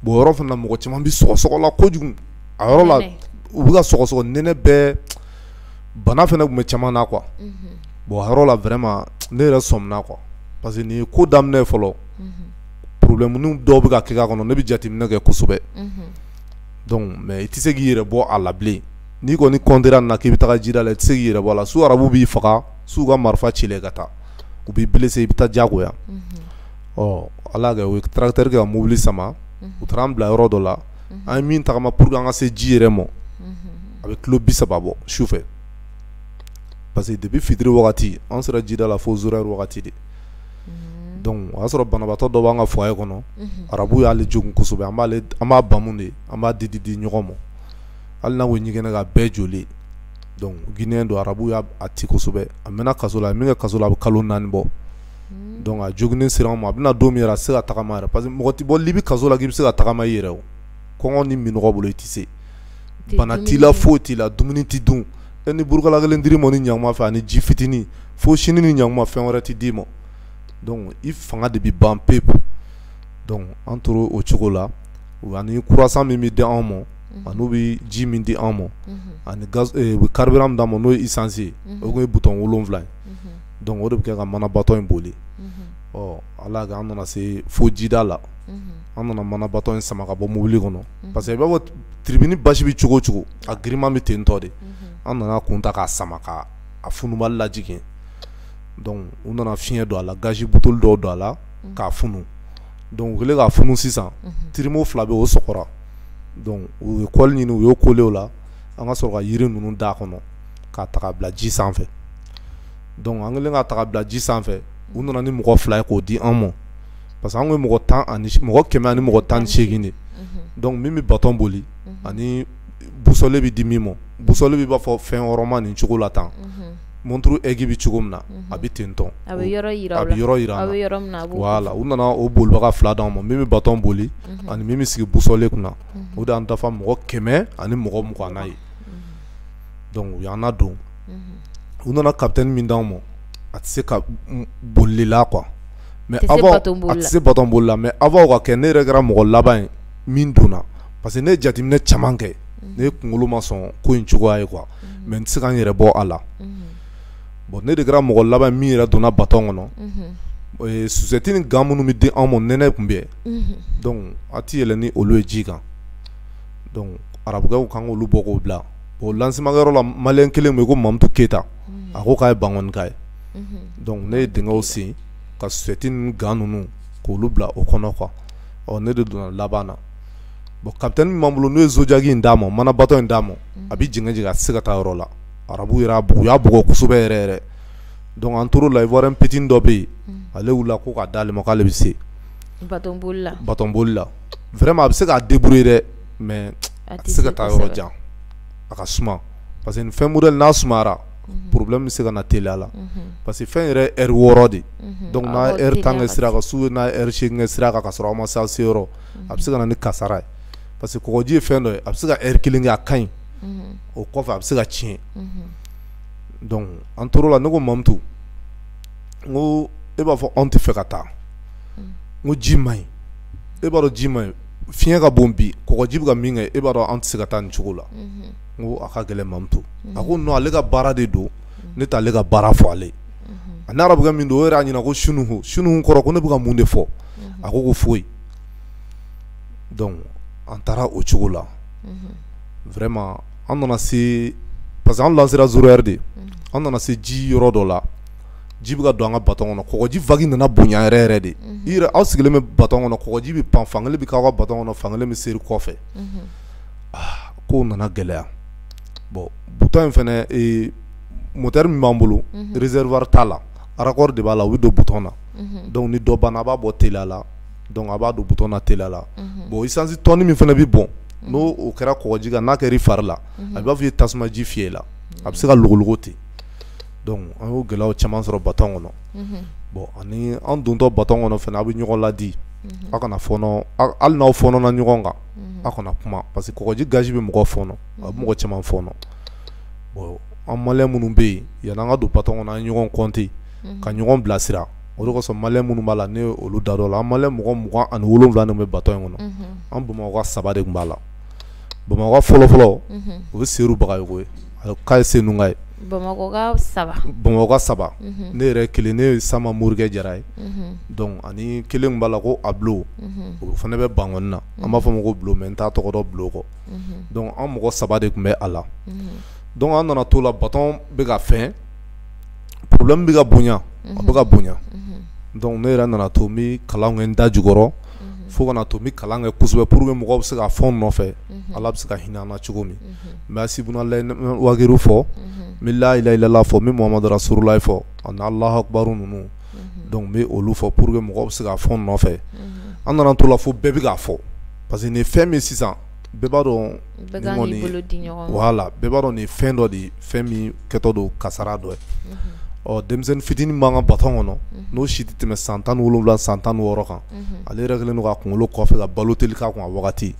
bon yɔrɔ fana mɔgɔ caman bɛ sɔgɔsɔgɔ la kojugu a yɔrɔ la u bɛ ka sɔgɔsɔgɔ nɛnɛ bɛɛ bana fana tun bɛ caman na quoi bon a yɔrɔ la vraiment ne yɛrɛ sɔmina quoi parce que nin ko daminɛ fɔlɔ problème dɔw bɛ ka kɛ a kɔnɔ ne bɛ jateminɛ kɛ kosɛbɛ mais i tɛ se k'i yɛrɛ bɔ a la bilen n'i kɔni kɔntira nin na k'i bɛ taa jida la i tɛ se k'i yɛrɛ bɔ la soit arabu b'i faga soit u ka marifa ci i la ka taa u b'i blessé i bɛ taa jagoya ɔ ala y'a kɛ u ye tracteur kɛ ka mobili sama u taara an bila yɔrɔ dɔ la an ye min tagama pour que an ka se ji yɛrɛ ma a bɛ kilo bi saba bɔ su fɛ parce que depuis fitiri wagati an sera jida la fo zéro heure wagati de o y'a sɔrɔ banabaatɔ dɔ b'an ka foyer kɔnɔ arabu y'ale jogun kosɛbɛ an b'a bamu de an b'a di di di ɲɔgɔn ma hali n'a ko ɲɛgɛnɛ kɛ bɛɛ joli guinéen don arabu y'a ti kosɛbɛ a mɛnna kaso la a min kɛ kaso la a bɛ kalo naani bɔ donc a joginnen sera an ma a bɛ na don min a tɛ se ka tagama parce que mɔgɔ tɛ bɔ libi kaso la k'i bɛ se ka tagama i yɛrɛ o kɔngɔ ni minɔgɔ bolo i tɛ se bana t'i la foyi t'i la dumuni tɛ dun e ni burukala kelen dir'i ma nin ɲakuma fɛ ani ji fitinin fo sini nin ɲakuma fɛn wɛrɛ tɛ d'i ma i fanga de bɛ ban pewu an tora o cogo la ani croissant min bɛ di anw ma ani n'u bɛ ji min di anw ma ani carburant min d'an ma n'o ye essence o ye bidon wolonwula ye donc o de bɛ kɛ ka mana batɔn in boli ɔ ala y'a kɛ an nana se fo jida la an nana mana batɔn in sama ka bɔ mobili kɔnɔ parce que i b'a fɔ tribune basi bɛ cogo o cogo a girinman bɛ ten tɔ de an nana kun ta k'a sama a funubali lajigin u nana fiɲɛ don a la gazi buteli dɔw don a la k'a funu donc u kɛlen k'a funu sisan tiribo fila bɛ o sɔgɔra u ye kɔli ɲini u y'o kole o la an ka sɔrɔ ka yiri ninnu d'a kɔnɔ k'a taga bila ji sanfɛ donc an kɛlen ka taga bila ji sanfɛ u nana ni mɔgɔ fila ye k'o di an ma parce que an ye mɔgɔ tan ani mɔgɔ kɛmɛ ani mɔgɔ tan ni seegin de mhm. donc min bɛ batɔn boli mhm. ani busɔle bɛ di min ma busɔle b'i b'a fɔ fɛn wɔrɔma nin cogo la tan mhm. monturu egi bɛ cogo min na a bɛ ten tɔn a bɛ yɔrɔ yira a bɛ yɔrɔ yira an na voilà u nana o bolibaga fila d'an ma min bɛ batɔn boli ani min bɛ sigi busɔle kunna o de y'an dafa mɔgɔ kɛmɛ ani mɔgɔ mugan ye donc u y'an nadon u nana capitaine min d'an ma a tɛ se ka bolila quoi mais a tɛ se bato bolila mais avant o ka kɛ ne yɛrɛ kɛra mɔgɔ laban ye min donna parce que ne ye jateminɛ caman kɛ ne ye kunkolo ma sɔn ko in cogoya ye quoi mais n tɛ se ka n yɛrɛ bɔ a la bon ne de kɛra mɔgɔ laban min yɛrɛ donna bato kɔnɔ o ye susɛti ni gan minnu bɛ di anw ma nɛnɛ tun bɛ yen donc a tɛ yɛlɛ ni olu ye ji kan arabuw k'an k'olu bɔ k'o bila bon lancement kɛyɔrɔ la maliyɛn kelen bɛ yen ko mamutu keyita a ko k'a ye bankɔnika ye donc ne ye dingɛ sen ka susɛti ni gan ninnu k'olu bila o kɔnɔ quoi ne de donna laban na bon capitaine min b'an bolo n'u ye zodiac in d'a ma mana bato in d'a ma a bɛ zigzag a tɛ se ka taa yɔrɔ la arabu y'a u y'a bugɔ kosɛbɛ yɛrɛ yɛrɛ donc an tor'o la ivoirien petit dɔ bɛ yen ale wulila ko k'a d'ale ma k'ale bɛ se bato bolila vraiment a bɛ se k'a débrouiller dɛ mais a tɛ se ka taa yɔrɔ jan a ka suma parce que nin fɛn modèle n'a sumayara problème bɛ se ka na teliya la parce que fɛn yɛrɛ heure wɔɔrɔ de donc n'a ye heure tan kɛ sira kan suba n'a ye heure seegin kɛ sira kan ka sɔrɔ aw ma se aw se yɔrɔ a bɛ se ka na ni kasara ye parce que kɔgɔji ye fɛn dɔ ye a bɛ se ka heure kelen kɛ a ka ɲi o kɔfɛ a bɛ se ka tiɲɛ donc an tor'o la ne ko Mamutu n ko e b'a fɔ anw tɛ fɛ ka taa n ko ji man ɲi e b'a dɔn ji man ɲi fiɲɛ ka bon bi kɔgɔji bɛ ka min kɛ e b'a dɔn an tɛ se ka taa nin cogo la n ko a ka gɛlɛn mamutu a ko non ale ka baara de don ne t'ale ka baara fɔ ale an arabu min don o yɛrɛ y'a ɲininka ko shnu shnu kɔrɔ ko ne bɛ ka mun de fɔ a ko ko foyi donc an taara o cogo la vraiment an nana se parce que an lancera zéro heure de an nana se ji yɔrɔ dɔ la ji bɛ ka don an ka bato kɔnɔ kɔgɔji vague nana bonya yɛrɛ yɛrɛ de i aw sigilen bɛ bato kɔnɔ kɔgɔji bɛ pan fankelen bɛ k'aw ka bato kɔnɔ fankelen bɛ seri kɔfɛ aa ko nana gɛlɛya bon bidon in fana moteur min b'an bolo réservoir t'a la raccord de b'a la o bɛ don bidon na donc ni dɔ banna a b'a bɔ teliya la a b'a don bidon na teliya la bon essence tɔni min fana bɛ bɔn n'o kɛra kɔgɔji kan n'a kɛra i fari la a b'a fɔ i ye tasuma ji fiyɛ la a bɛ se ka logologo ten Donc an y'o gɛlɛya caman sɔrɔ bato kɔnɔ bon ani an dontɔ bato kɔnɔ fana aw bɛ ɲɔgɔn ladi aw kana fɔɔnɔ hali n'aw fɔɔnɔna ɲɔgɔn kan aw kana kuma parce que kɔgɔji gazi bɛ mɔgɔ fɔɔnɔ a bɛ mɔgɔ caman fɔɔnɔ bon an maliyɛn minnu bɛ yen yann'an ka don bato kɔnɔ an ye ɲɔgɔn compter ka ɲɔgɔn bilasira o kosɔn maliyɛn minnu b'a la ne olu da dɔn la an maliyɛn mɔgɔ mugan ani wolonwula bɛ bato in kɔnɔ an bamakɔ saba de tun b'a la bamakɔ fɔlɔfɔlɔ u bɛ se baga ye K'a ye Senunka ye Bamakɔka saba ne yɛrɛ kelen ne ye sama morikɛ jara ye donc ani kelen b'a la ko Abulo o fana bɛ Bankɔni na an b'a fɔ ma ko Bulo mais n t'a tɔgɔ dɔn Bulo kɔ donc an mɔgɔ saba de tun bɛ a la donc an nana to la baton bɛ ka fɛn problème bɛ ka bonya a bɛ ka bonya donc ne yɛrɛ nana to n bɛ kalan kɛ n da jukɔrɔ fo ka na to n bɛ kalan kɛ kosɛbɛ pour que mɔgɔw bɛ se k'a fɔ n nɔfɛ Ala bɛ se ka hinɛ an na cogo min n bɛ si wagadu fɔ n bɛ layilayilala fɔ n bɛ Muhamadu Rasululayi fɔ ani Alahu akibaru ninnu donc n bɛ olu fɔ pour que mɔgɔw bɛ se k'a fɔ n nɔfɛ an nana to la fo bɛɛ bɛ k'a fɔ parce que nin fɛn min sisan bɛɛ b'a dɔn la bɛɛ b'a dɔn nin fɛn dɔ de fɛn min kɛtɔ don kasara dɔ ye ɔ denmisɛnnin fitinin b'an ka baton kɔnɔ n'o si tɛ tɛmɛ san tan wolowula san tan wɔɔrɔ kan ale yɛrɛ kɛlen ka kunkolo kɔfɛ ka balo teli k'a kun a wagati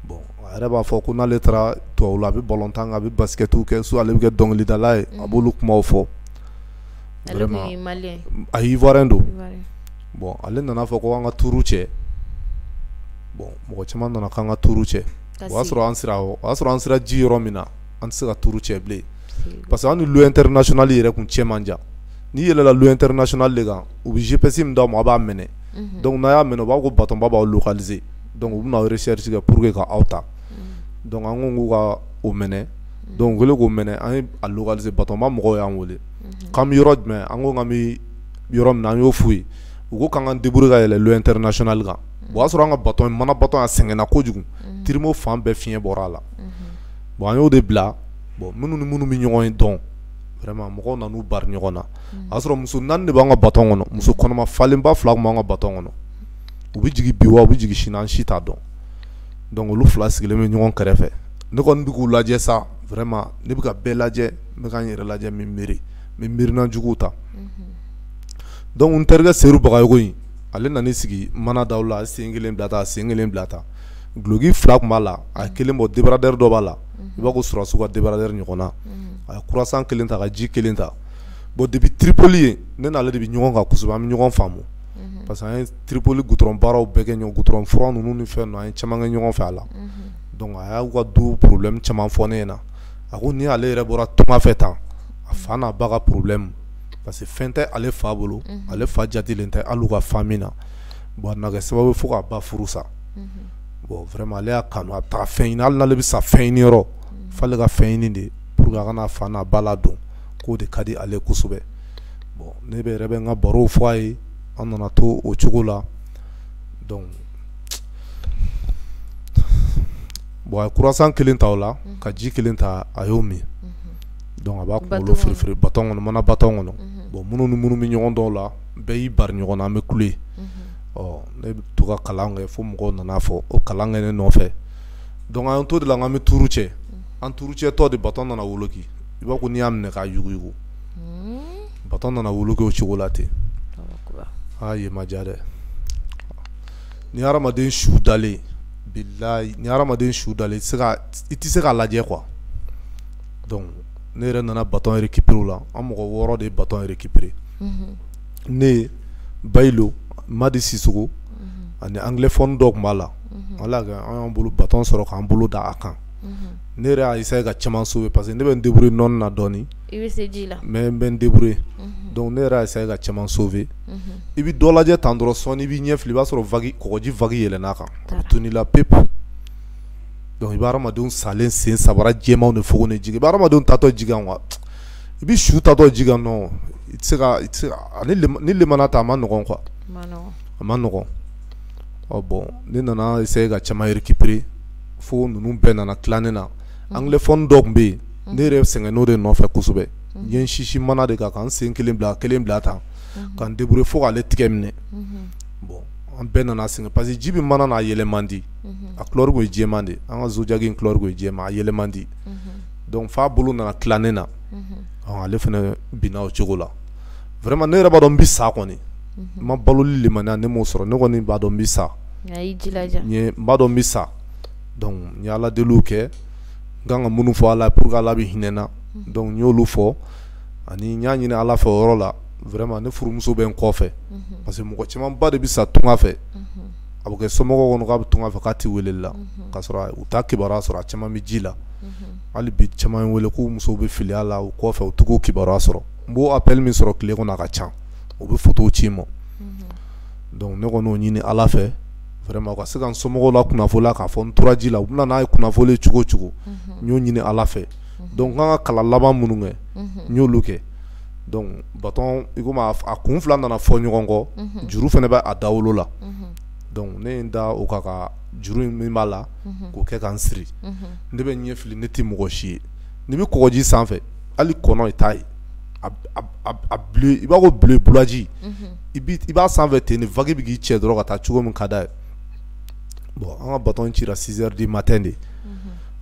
bon a yɛrɛ b'a fɔ ko n'ale taara tubabu la a bɛ balon tan a bɛ basikɛtiw kɛ so ale bɛ kɛ dɔnkilidala ye a b'olu kumaw fɔ a ivoirien don bon ale nana a fɔ ko an ka tour cɛ bon mɔgɔ caman nana k'an ka tour cɛ o y'a sɔrɔ an sera ji yɔrɔ min na an tɛ se ka tour cɛ bilen parce que an ni l'eau international yɛrɛ kun cɛ man jan n'i yɛlɛla l'eau international de kan u bɛ GPS min d'aw ma a b'a minɛ donc n'a y'a minɛ u b'a ko batonba b'aw localiser donc u bɛna aw recherche kɛ pour que ka aw ta donc an ko k'u ka o minɛ donc u kɛlen k'o minɛ an ye a localiser batonba mɔgɔw y'an wele k'an bɛ yɔrɔ jumɛn an ko k'an yɔrɔ min na an y'o f'u ye u ko k'an k'an débrouiller ka yɛlɛ l'eau international kan o y'a sɔrɔ an ka baton mana baton a sɛgɛnna kojugu trimo fan bɛɛ fiɲɛ bɔra a la bon an y'o de bila bon minnu ni minnu bɛ ɲɔgɔn ye dɔn vraiment mɔgɔw nan'u bari ɲɔgɔn na a y'a sɔrɔ muso naani de b'an ka baton kɔnɔ muso kɔnɔma falenba fila tun b'an ka baton kɔnɔ u bɛ jigin bi wa u bɛ jigin sini an si t'a dɔn donc olu fila sigilen bɛ ɲɔgɔn kɛrɛfɛ ne kɔni bɛ k'u lajɛ sa vraiment ne bɛ ka bɛɛ lajɛ n bɛ ka n yɛrɛ lajɛ n bɛ miiri n bɛ miirina juguw ta donc n terikɛ Seru Bagayogo in ale nan'i sigi mana da la a sen kelen bila tan sen kelen bila tan duloki fila tun b'a la a ye kelen bɔ débardeur dɔ b'a la i b'a ko sɔrɔdasiw ka débardeur ɲɔgɔnna a ye croissant kelen ta ka ji kelen ta bon depuis Tripoli yen ne n'ale de bɛ ɲɔgɔn kan kosɛbɛ an bɛ ɲɔgɔn faamu parce que an ye Tripoli goudron baaraw bɛɛ kɛ ɲɔgɔn fɛ goudron furan ninnu ni fɛn ninnu an ye caman kɛ ɲɔgɔn fɛ voilà donc a y'u ka du problème caman fɔ ne ɲɛna a ko ni ale yɛrɛ bɔra tunga fɛ tan a fa n'a ba ka problème parce que fɛn tɛ ale fa bolo ale fa jatelen tɛ hali u ka famille na bon a nana kɛ sababu ye fo k'a ba furu sa bon vraiment ale y'a kanu a bɛ taa fɛn ɲini hali n'ale bɛ sa fɛn ɲini yɔrɔ f'ale ka fɛn ɲini de pour que a ka na a fa n'a ba ladon k'o de ka di ale kosɛbɛ bon ne yɛrɛ bɛ n ka barow fɔ a ye an nana to o cogo la donc bon a ye croissant kelen ta o la ka ji kelen ta a y'o min Donc a b'a kunkolo firi firi baton kɔnɔ mana baton kɔnɔ unhun bon minnu ni minnu bɛ ɲɔgɔn dɔn o la bɛɛ y'i bari ɲɔgɔn na an bɛ kule unhun ɔ ne bɛ to ka kalan kɛ fo mɔgɔw nana fɔ ko kalan kɛ ne nɔfɛ donc an to de la an bɛ tuuru cɛ an tuuru cɛ tɔ de baton nana woloki i b'a ko n'i y'a minɛ k'a yuguyugu uun baton nana woloki o cogo la ten Alahu akibaru aa yen ma diya dɛ ni hadamaden su dalen bilahi ni hadamaden su dalen i tɛ se ka i tɛ se k'a lajɛ quoi donc ne yɛrɛ nana baton récupérer u la an mɔgɔ 6 de ye baton récupérer unhun ne Bayilo Madi Sisoko unhun ani anglophone dɔ tun b'a la unhun Ala y'a kɛ an y'an bolo baton sɔrɔ k'an bolo da a kan unhun ne yɛrɛ y'a essayer ka caman sauver parce que ne bɛ n débrouiller nɔni na dɔɔnin i bɛ se ji la mais n bɛ n débrouiller unhun donc ne yɛrɛ y'a essayer ka caman sauver unhun i bɛ dɔ lajɛ tan dɔrɔn sɔɔnin i b'i ɲɛ fili i b'a sɔrɔ vague kɔgɔji vague yɛlɛnna a kan a bɛ tunun i la pepu donc i bɛ hadamadenw salen sen sabara jɛmanw de fogonnen ji kan i bɛ hadamadenw taatɔ ji kan quoi i bɛ su taatɔ ji kan non i tɛ se ka ni limaniya ta a man nɔgɔn quoi a man nɔgɔn ɔ bon ne nana essayer ka caman récupérer fo ninnu bɛɛ nana tila ne na anglophone dɔ tun bɛ yen ne yɛrɛ sɛgɛnn'o de nɔfɛ kosɛbɛ n ye n sinsin mana de kan ka n sen kelen bila kelen bila tan ka n débrouiller fo k'ale tigɛ minɛ bon an bɛɛ nana sɛgɛn parce que ji bɛ mana na a yɛlɛ man di mhm. a couleur kun ye jɛman de an ka zodiac in couleur kun ye jɛman a yɛlɛ man di mhm. donc f'a bolo nana tila ne na mhm. ale fana binna o cogo la vraiment ne yɛrɛ b'a dɔn n bɛ sa kɔni n ma baloli limaniya ne m'o sɔrɔ ne kɔni b'a dɔn n bɛ sa n b'a dɔn n bɛ sa donc n ye ala deliw kɛ n kan ka minnu fɔ ala pour que ala bɛ hinɛ n na donc n y'olu fɔ ani n y'a ɲini ala fɛ o yɔrɔ la vraiment ne furumuso bɛ n kɔfɛ parce que mɔgɔ camanba de bɛ sa tunga fɛ a bɛ kɛ somɔgɔw kɔnɔ k'a bɛ tunga fɛ k'a tɛ weleli la k'a sɔrɔ u t'a kibaruya sɔrɔ a caman bɛ ji la hali bi caman bɛ n wele k'u musow bɛ filiya la u kɔfɛ u t'u kibaruya sɔrɔ n bɛ appel min sɔrɔ tile kɔnɔ a ka ca u bɛ photo ci n ma donc ne kɔni y'o ɲini ala fɛ vraiment u ka se ka n somɔgɔw lakunnafoni k'a fɔ n tora ji la u bɛna n'a ye kunnafoni cogo o cogo n y'o ɲini ala fɛ donc n kan ka kalan laban minnu kɛ n y'olu kɛ donc baton in a kun fila nana fɔ ɲɔgɔn kɔ juru fana bɛ a dawolo la donc ne ye n da o kan ka juru in min b'a la k'o kɛ ka n siri ne bɛ ɲɛ fili ne tɛ mɔgɔ si ye n'i bɛ kɔgɔji sanfɛ hali kɔnɔ i t'a ye i b'a ko bulaji i b'a sanfɛ ten ni vague bɛ k'i cɛ dɔrɔn ka taa cogo min ka d'a ye bon an ka baton cira 6 heures du matin de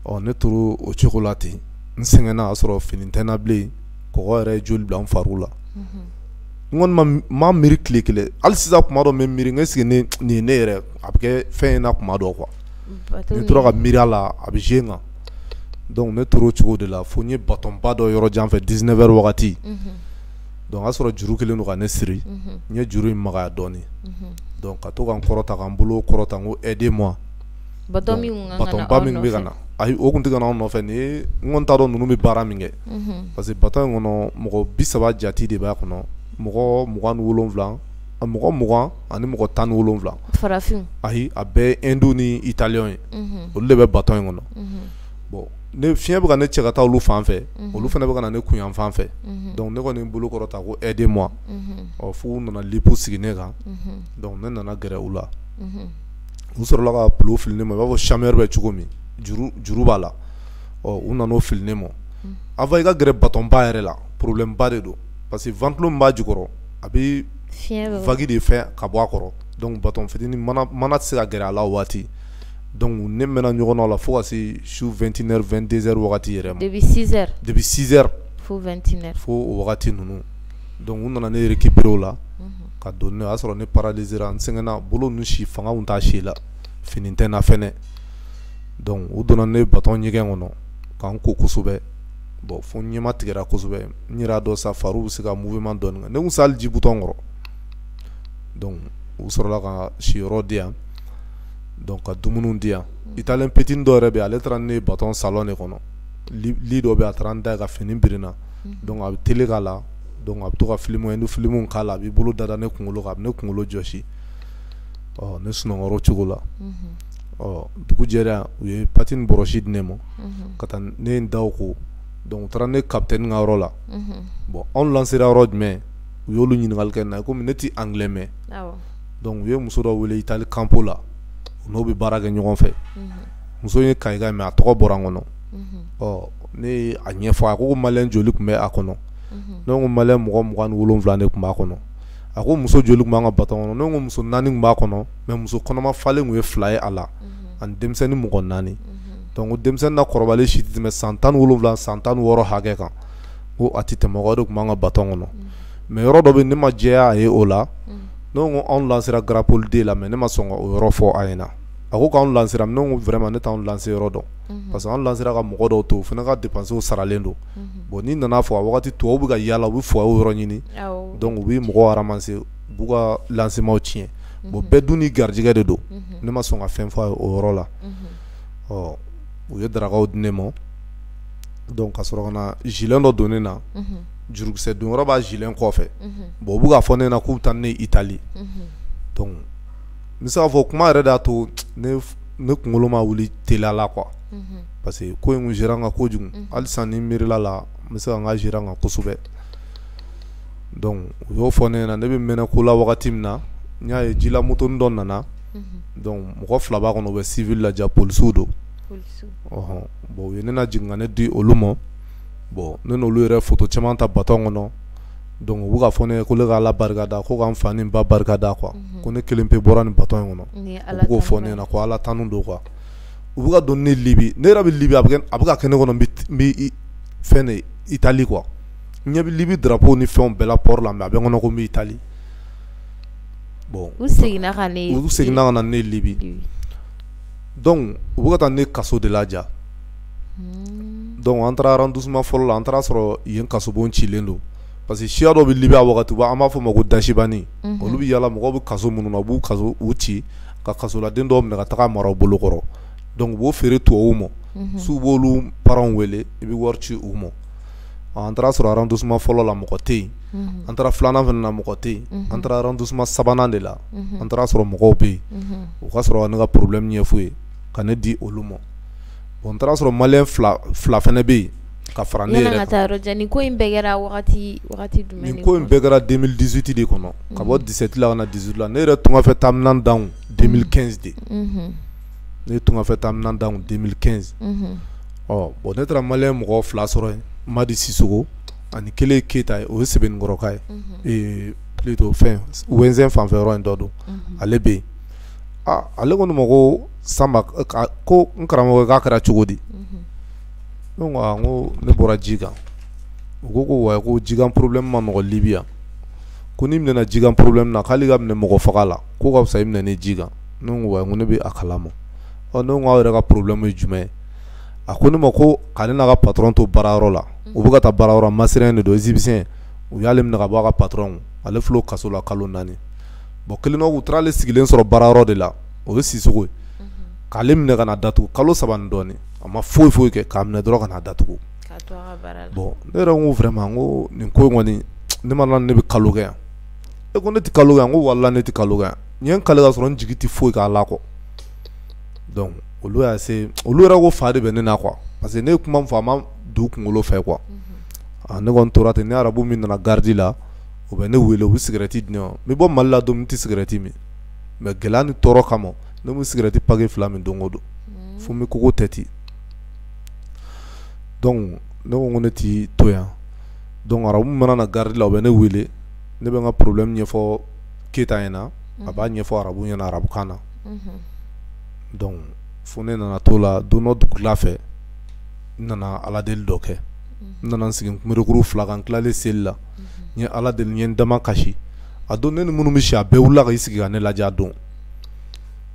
ɔ ne tora o cogo la ten n sɛgɛnna a sɔrɔ fini tɛ n na bilen kɔgɔ yɛrɛ ye joli bila fari la n kɔni ma miiri tile kelen hali sisan kuma dɔ n bɛ miiri est-ce que nin ye ne yɛrɛ a bɛ kɛ fɛn in na kuma dɔ quoi n tora ka miiri a la a bɛ jouer n kan donc ne tora o cogo de la fo n ye batonba dɔ yɔrɔ jan fɛ 19 heures wagati donc o y'a sɔrɔ juru kɛlen don ka ne siri n ye juru in magaya dɔɔnin ka to ka n kɔrɔta ka n bolo kɔrɔta n ko aidez-moi ba min bɛ ka na ayi o tun tɛ anw nɔfɛ ne kɔni t'a dɔn ninnu bɛ baara min kɛ parce que baton in kɔnɔ mɔgɔ bi saba jate de b'a kɔnɔ mɔgɔ mugan wolonwula a mɔgɔ mugan ani mɔgɔ tan ni wolonwula farafin ayi a bɛɛ ye Hindu ni italien ye olu de bɛ baton in kɔnɔ bon ne fiɲɛ bɛ ka ne cɛ ka taa olu fan fɛ olu fana bɛ ka na ne kun yan fan fɛ donc ne kɔni bolo kɔrɔta ko aidez-moi ɔ f'u nana loupe sigi ne kan donc ne nana gɛrɛ u la u sɔrɔla ka ballon fili ne ma i b'a fɔ chambre à air bɛ cogo min juru juru b'a la ɔ u nana o fili ne ma avant i ka gɛrɛ baton ba yɛrɛ la problème ba de don parce que ventilo min b'a jukɔrɔ a bɛ vague de fɛ ka bɔ a kɔrɔ donc baton fitini mana mana tɛ se ka gɛrɛ a la o waati donc ne mɛnna ɲɔgɔn na o la fo ka se su 21 heures 22 heures wagati yɛrɛ ma depuis 6 heures depuis 6 heures fo 21 heures fo o wagati ninnu donc u nana ne récupérer o la ka don n'o y'a sɔrɔ ne paralysera n sɛgɛnna bolo ninnu si fanga tun t'a si la fini tɛ n na fɛnɛ donc u donna ne baton ɲɛgɛn kɔnɔ ka n ko kosɛbɛ bon fo n ɲɛma tigɛra kosɛbɛ n yɛrɛ y'a dɔn sa fariw bɛ se ka mouvement dɔɔni kɛ ne tun tɛ se hali ji bidon kɔrɔ donc u sɔrɔla ka siyɔrɔ di yan donc ka dumuniw di yan italien petini dɔ yɛrɛ bɛ yen ale taara ni ne ye baton salon de kɔnɔ lit dɔ bɛ yen a taara n da yen ka fini biri n na donc a bɛ télé k'a la donc a bɛ to ka film Hindu film k'a la a b'i bolo dada ne kunkolo kan a bɛ ne kunkolo jɔsi ɔ ne sunɔgɔra o cogo la ɔ dugu jɛra u ye pâte ni brosse di ne ma ka taa ne ye n da ko donc u taara ne capitaine ka yɔrɔ la bon anw lansera yɔrɔ jumɛn u y'olu ɲininkali kɛ n na komi ne tɛ anglais mɛn donc u ye muso dɔ wele Italie campo la u n'o bɛ baara kɛ ɲɔgɔn fɛ muso in ye Kayika ye mais a tɔgɔ bɔra n kɔnɔ ɔ ne ye a ɲɛfɔ a ko maliyɛn joli tun bɛ a kɔnɔ ne ko maliyɛn mɔgɔ mugan ni wolonwula de tun b'a kɔnɔ a ko muso joli tun b'an ka baton kɔnɔ ne ko muso naani tun b'a kɔnɔ mɛ muso kɔnɔma falen tun ye fila ye a la ani denmisɛnnin mɔgɔ naani dɔnku denmisɛnnin na kɔrɔbalen si tɛ tɛmɛ san tan ni wolonwula san tan ni wɔɔrɔ hakɛ kan ko a tɛ tɛmɛ o de tun b'an ka baton kɔnɔ mɛ yɔrɔ dɔ bɛ ne ma jɛya a ye o la n ko anw lansera Garapoli la mɛ ne ma sɔn k'o yɔrɔ fɔ a ɲɛna a ko k'an lansera ne ko vraiment ne t'an lancer yɔrɔ dɔn parce que an lansera ka mɔgɔ dɔw to o fana ka dépenses saralen don bon n'i nana fɔ a waati tubabu bɛ ka yala u bɛ foyer yɔrɔ ɲini dɔnku u bɛ mɔgɔw ramasser u b'u ka lancement tiɲɛ bon bɛɛ dun n'i garijɛgɛ de don ne ma sɔn ka fɛn fɔ a ye o yɔrɔ la ɔ u ye darakaw di ne ma dɔnku ka sɔrɔ ka na gilet dɔ don ne na jurukisɛ don yɔrɔ b'a gilet kɔfɛ bon u bɛ ka fɔ ne ɲɛna k'u bɛ taa ne Itali n bɛ se k'a fɔ kuma yɛrɛ de y'a to ne kunkolo ma wuli teliya la quoi unhun, parce que ko in tun girin n kan kojugu, unhun, hali sisan ni n miirila a la n bɛ se ka n ka girin n kan kosɛbɛ donc u y'o fɔ ne ɲɛna ne bɛ mɛnɛ ko la wagati min na n y'a ye jila motonin dɔ nana, unhun, donc mɔgɔ fila b'a kɔnɔ u bɛ civil la ja polisiw don, polisiw, ɔhɔn, bon u ye ne lajigin ka ne di olu ma bon ne n'olu yɛrɛ ye photo caman ta baton kɔnɔ dɔnku u bɛ ka fɔ ne ye ko ne ka Ala barika da ko ka n fa ni n ba barika da quoi ko ne kelen pe bɔra nin bato in kɔnɔ u bɛ k'o fɔ ne ɲɛna ko Ala tanu don quoi u bɛ ka don ne libi ne yɛrɛ bɛ libi a bɛ ka kɛ ne kɔnɔ n bɛ fɛn de Itali quoi n ɲɛ bɛ libi drapeau ni fɛnw bɛɛ la port la mɛ a bɛ n kɔnɔ ko n bɛ Itali bɔn u seginna ka seginna ka na ne libi dɔnku u bɛ ka taa ne kaso de la dɔnku an taara arrondissement fɔlɔ la an taara sɔrɔ yen kasobon cilen don parce que siya dɔ bɛ Libi a waati an b'a fɔ o ma ko Dachibani olu bɛ yala mɔgɔw bɛ kaso minnu na u b'u kasow ci ka kasoladen dɔw minɛ ka taa mara u bolo kɔrɔ dɔnku u b'o feere tubabuw ma su b'olu parents wele i bɛ wari ci u ma an taara sɔrɔ arrondissement fɔlɔ la mɔgɔ tɛ yen an taara filanan fana na mɔgɔ tɛ yen an taara arrondissement sabanan de la an taara sɔrɔ mɔgɔw bɛ yen u ka sɔrɔ ka ne ka problème ɲɛf'u ye ka ne di olu ma o taara sɔrɔ mali fila fana bɛ yen ka fara ne yɛrɛ ko in ko in bɛɛ kɛra den dusute de kɔnɔ ka bɔ disetila ka dusu la ne yɛrɛ tun fɛ taa dan denmisɛnninmiɛnsin de ne tun fɛ taa dan denmisɛnninmiɛnsin ɔ bɔn ne taara mali mɔgɔ fila sɔrɔ yen ma di siso ani kelen keyitata ye o ye sɛbɛnkɔrɔka ye to fɛn wɛnsen fanfɛ yɔrɔ in dɔ don ale bɛ yen aa ale ko ne ma koo Sanba k e kaa ko n karamɔgɔkɛ k'a kɛra cogodi unhun ne ko aa n koo ne bɔra ji kan u ko ko ouai ko jikan problème man nɔgɔn Libi yan ko n'i minɛna jikan problème na k'ali i ka minɛ mɔgɔfaga la k'o ka fisa i minɛni ji kan ne ko ouai n ko ne be a kalama ɔ ne ko aw yɛrɛ ka problème ye jumɛn ye a ko ne ma ko k'ale n'a ka patron to baarayɔrɔ la unhun u be ka taa baarayɔrɔ masiriɲɛn de don égyptien u y'ale minɛ ka bɔ a ka patron kun ale filɛ o kaso la kalo 4 bon kelen dɔ u taara ale sigilen sɔrɔ baara yɔrɔ de la o ye Sisoko ye k'ale minɛ ka na datugu kalo saba ni dɔɔnin a ma foyi foyi kɛ k'a minɛ dɔrɔn ka na datugu bon ne yɛrɛ ko vraiment ko nin ko kɔni ne ma ne bɛ kalo kɛ yan e ko ne tɛ kalo kɛ yan ko walayi ne tɛ kalo kɛ yan n ye n kali ka sɔrɔ n jigi tɛ foyi kan ala kɔ donc olu y'a se olu yɛrɛ ko fa de bɛ ne na quoi parce que ne ye kuma min fɔ a ma don u kunkolo fɛ quoi ne kɔni tora ten ni arabu min nana garidi la u bɛ ne wele u bɛ cigarette di n ma n bɛ bɔ mali la don min n tɛ cigarette min mais gɛlɛya ni tɔɔrɔ kama ne bɛ cigarette paquet fila min don o don fo n bɛ kogo tɛ ten donc ne ko ne tɛ to yan donc arabu min mana na garidi la u bɛ ne wele ne bɛ n ka problème ɲɛfɔ keyita ɲɛna a b'a ɲɛfɔ arabu ɲɛna arabukan na donc fo ne nana to la don dɔ dugula fɛ n nana ala deli dɔ kɛ n nana n sigi kunberekuru fila kan tilalen seli la n ye ala deli n ye n dama kasi a don ne ni minnu bɛ si a bɛɛ wulila k'i sigi ka ne lajɛ a don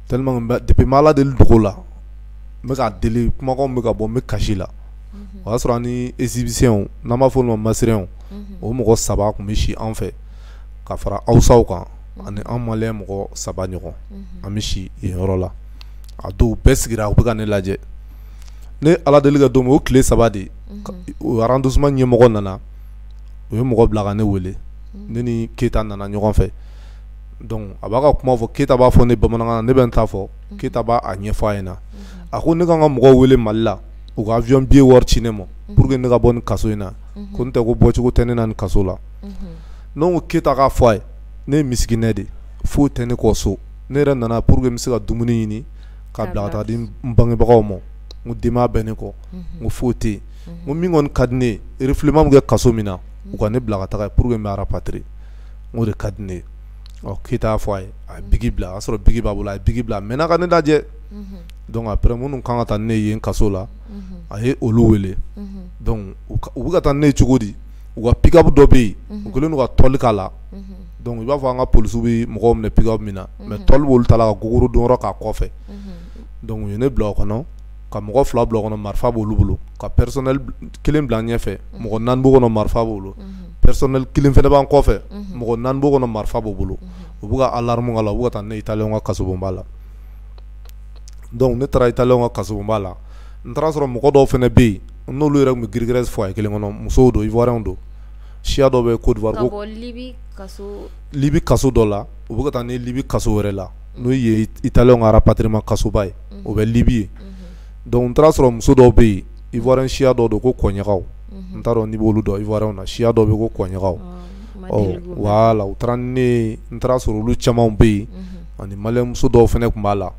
depuis n ma ala deli dogo la n bɛ ka deli kumakan bɛ ka bɔ n bɛ kasi la o y'a sɔrɔ ani égyptien n'an b'a fɔ u ma masirɛnw o mɔgɔ saba tun bɛ si an fɛ ka fara hausaw kan ani an maliyɛn mɔgɔ saba ɲɔgɔn an bɛ si yen yɔrɔ la a don bɛɛ sigira u bɛ ka ne lajɛ ne ala deli kɛ don min o tile saba de o arrondissement ɲɛmɔgɔ nana u ye mɔgɔ bila ka ne wele ne ni keyita nana ɲɔgɔn fɛ a b'a ka kuma fɔ keyita b'a fɔ ne ye bamanankan na ne bɛ n ta fɔ keyita b'a ɲɛfɔ a ɲɛna a ko ne ka n ka mɔgɔw wele mali la u ka avion billet wari ci ne ma pour que ne ka bɔ nin kaso in na ko n'o tɛ ko bɔcogo tɛ ne na nin kaso la n ko keyita k'a fɔ a ye ne ye misikinɛ de foyi tɛ ne kɔ so ne yɛrɛ nana pour que n bɛ se ka dumuni ɲini ka bila ka taa di n bangebagaw ma n ko denbaya bɛ ne kɔ n ko foyi tɛ yen ko min kɔni ka di ne ye refoulement bɛ kɛ kaso min na u ka ne bila ka taga pour que n bɛ rapatrier o de ka di ne ye ɔ keyita y'a fɔ a ye a ye biki bila a y'a sɔrɔ biki b'a bolo a ye biki bila ka mɛn ka ne lajɛ donc après minnu kan ka taa ni ne ye kaso la a ye olu wele u bɛ ka taa ni ne ye cogo di u ka pick-up dɔ bɛ yen u kɛlen don ka tɔli k'a la donc i b'a fɔ an ka polisiw bɛ mɔgɔ minɛ pick-up min na mais tɔli b'olu ta la ka gogoro don k'a kɔfɛ donc u ye ne bila o kɔnɔ ka mɔgɔ fila bila o kɔnɔ marifa b'olu bolo ka pɛsɛ kelen bila ɲɛfɛ mɔgɔ naani b'o kɔnɔ marifa b'u bolo pɛsɛ kelen fana b'an kɔfɛ mɔgɔ naani b'o kɔnɔ marifa b'u bolo u bɛ ka alarme k'a la u bɛ ka taa ne italien ka kasobonba la donc ne taara italien ka kasobonba la n taara sɔrɔ mɔgɔ dɔw fana bɛ yen n'olu yɛrɛ tun bɛ girigirɛsi foyer kelen kɔnɔ musow don ivoirien don siya dɔ bɛ côte d'ivoire libi kaso dɔ la u bɛ ka taa ne libi kaso wɛrɛ la n'o ye italien ka rapatriement kasoba ye o bɛ libi ye donc n taara sɔrɔ muso dɔw bɛ yen ivoirien siya dɔ don ko kɔnɲagaw n t'a dɔn n'i b'olu dɔn ivoirien na siya dɔ bɛ ko kɔnɲagaw voilà u taara ne n taara sɔrɔ olu camanw bɛ yen ani malien muso dɔw fana tun b'a la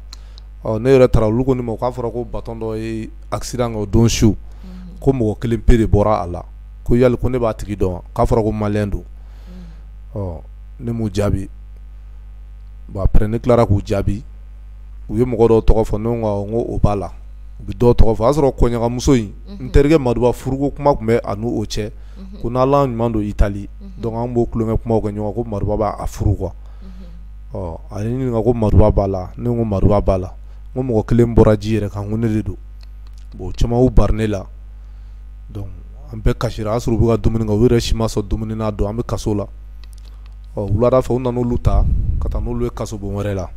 ne yɛrɛ taara olu ko ne ma k'a fɔra ko bato dɔ ye accident kɛ o don su ko mɔgɔ kelen pe de bɔra a la ko yali ko ne b'a tigi dɔn k'a fɔra ko malien don ne m'u jaabi bon après ne tilara k'u jaabi u ye mɔgɔ dɔw tɔgɔ fɔ n ko o b'a la u bɛ dɔw tɔgɔ fɔ o y'a sɔrɔ kɔɲɔkamuso in n terikɛ maduba furuko kuma tun bɛ a n'o cɛ ko n'u ɲuman don itali donc an b'o tulonkɛ kuma kɛ ɲɔgɔn ko maduba b'a furu quoi ɔ a ye n ɲininka ko maduba b'a la ne ko maduba b'a la n ko mɔgɔ kelen bɔra ji yɛrɛ kan ko ne de don bon caman y'u bari ne la an bɛɛ kasira a y'a sɔrɔ u bɛ ka dumuni kɛ u yɛrɛ si ma sɔn dumuni na o don an bɛ kaso la ɔ wulada fɛ u nana olu ta ka taa n'olu ye kasobon wɛrɛ la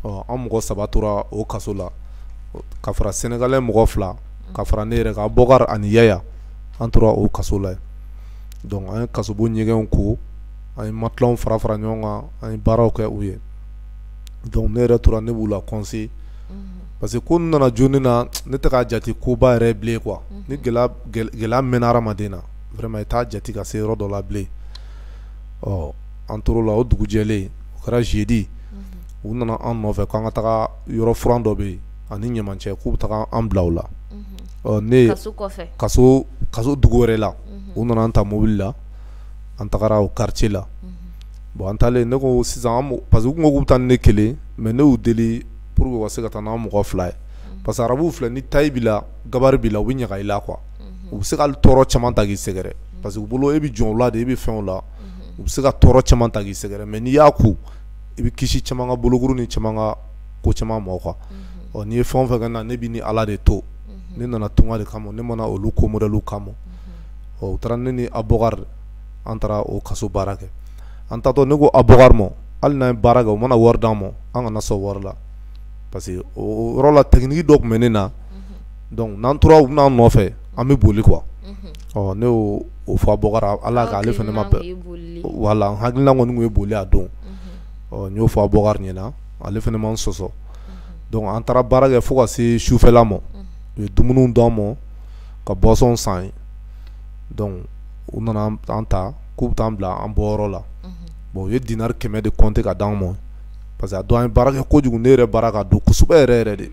ɔ an mɔgɔ saba tora o kaso la ka fara sénégalais mɔgɔ fila ka fara ne yɛrɛ kan bɔkari ani yaya an tora o kaso la donc an ye kasobon ɲɛgɛnw ko an ye matelas fara fara ɲɔgɔn kan an ye baaraw kɛ u ye donc ne yɛrɛ tora ne b'u la conseil parce que ko nana joni na ne tɛ k'a jate koba yɛrɛ bilen quoi ni gɛlɛya mɛnna hadamaden na vraiment i t'a jate ka se yɔrɔ dɔ la bilen ɔ an tor'o la o dugu jɛlen o kɛra jeudi u nana an nɔfɛ k'an ka taga yɔrɔ furan dɔ bɛ yen ani ɲamancɛ k'u bɛ taa an bila o la ɔ ne kaso dugu wɛrɛ la u nana an ta mobili la an tagara o quartier la bon an taalen ne ko sisan parce que u tun bɛ taa ni ne kelen mais ne y'u deli pour u ka se ka taa n'an mɔgɔ fila ye parce que arabuw filɛ ni taille b'i la gabarit b'i la u bɛ ɲaga i la qu u bɛ se ka tɔɔrɔ caman ta k'i sɛgɛrɛ parce que u bolo e bɛ jɔn la de e bɛ fɛn la u bɛ se ka tɔɔrɔ caman ta k'i sɛgɛrɛ mais n'i y'a ku i bɛ kisi caman ka bolokuru ni caman ka ko caman ma quoi ɔ n'i ye fɛn o fɛn kɛ n na ne b'i ni ala de to ne nana tunga de kama ne ma na olu ko modèle kama ɔ u taara ne ni abɔkar an taara o kaso baara kɛ an taatɔ ne ko abɔkar ma hali n'an ye baara kɛ u mana wari d'an ma an kana sɔn wari la parce que o yɔrɔ la technique dɔ tun bɛ ne na dɔnku n'an tora u n'an nɔfɛ an bɛ boli quoi ne y'o fɔ Abokari ala k' ale fana ma wala hakilila kɔni ye boli a don ɔ n y'o fɔ Abokari ɲɛna ale fana ma n sɔsɔ dɔnku an taara baara kɛ fo ka se sufɛla ma u ye dumuni d'an ma ka boisson san ye dɔnku u nana an ta k'u bɛ t'an bila an bɔyɔrɔ la bon u ye dinari kɛmɛ de compter ka di anw ma parce que a don an ye baara kɛ kojugu ne yɛrɛ baara k'a don kosɛbɛ yɛrɛ yɛrɛ de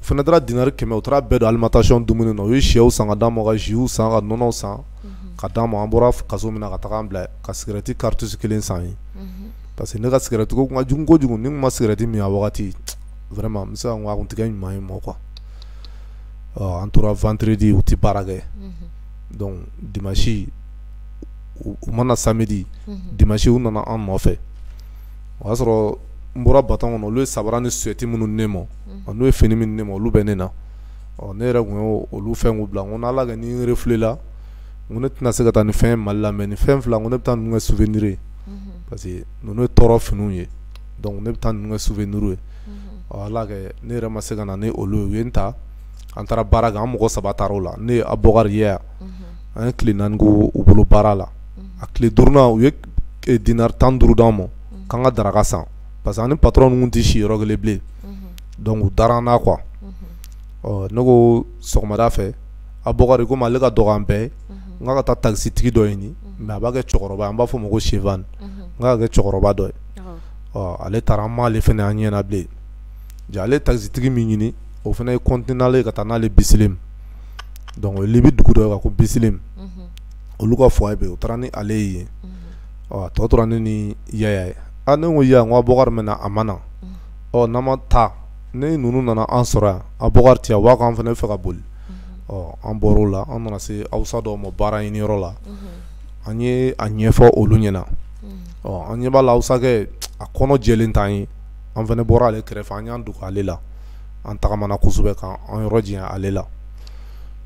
u fana taara dinari kɛmɛ u taara bɛɛ don alimentation dumuni na u ye shɛw san ka d'an ma ka ziw san ka nɔnɔw san mhm. ka d'an ma an bɔra kaso min na ka taga an bila ka sigirɛti karitusi kelen san ye mhm. parce que ne ka sigirɛtiko kun ka jugu kojugu ni n ma sigirɛti min a wagati vraiment n bɛ se ka n ko a kun tigɛ ɲuman ye mɔ quoi ɔ an tora vendredi u tɛ baara kɛ mhm. donc dimanche u ma na samedi dimanche u nana an nɔfɛ o y'a sɔrɔ n bɔra baton kɔnɔ olu ye sabara ni suɛti minnu ne ma n'u ye fini minnu ne ma olu bɛ ne na ɔ ne yɛrɛ tun ye olu fɛn k'u bila ko n' ala kɛ ni n refulela ko ne tɛna se ka taa ni fɛn mali la mɛ ni fɛn fila ko ne bɛ taa ninnu kɛ souvenir ye parce que ninnu ye tɔɔrɔ finiw ye dɔnku ne bɛ taa ninnu kɛ souvenir ye ala kɛ ne yɛrɛ ma se ka na ni olu ye u ye n ta an taara baara kɛ an mɔgɔ saba taara o la ne ye Abokari ye yan an ye tile naani k'u bolo baara la a tile duurunan u ye dinari tan ni duuru d'an ma k'an ka daraka san parce que an ni patron ninnu tɛ si yɔrɔ kelen bilen dɔnku u dara an na quoi ɔ ne ko sɔgɔmada fɛ Abokari komi ale ka dɔgɔ an bɛɛ n ka taa takisitigi dɔ ɲini mɛ a b'a kɛ cɛkɔrɔba an b'a fɔ o ma ko chibani n'a kɛ cɛkɔrɔba dɔ ye ɔ ale taara an m'ale fana an ɲɛna bilen ja ale takisitigi min ɲini o fana ye continuer n'ale ka taa n'ale Bisilimu donc Libi dugu dɔ ko Bisilimu unhun, olu ka foyer bɛ yen u taara ni ale ye yen, unhun, ɔ tɔ tora ne ni Yaya ye, aa ne ko Yaya Abokari mɛna a ma na, unhun, ɔ n'an ma taa ni ninnu nana an sɔrɔ yan Abokari tɛ yan u b'a fɔ k'an fana bɛ fɛ ka boli, unhun, ɔ an bɔr'o la an nana se awusa dɔw ma baara ɲini yɔrɔ la, unhun, an ye a ɲɛfɔ olu ɲɛna, unhun, ɔ an ɲɛ b'a la awusakɛ a kɔnɔ jɛlen t'an ye, an fana bɔra ale kɛrɛfɛ an y'an dogo ale la, an tagamana kosɛbɛ ka an yɔrɔ janya ale la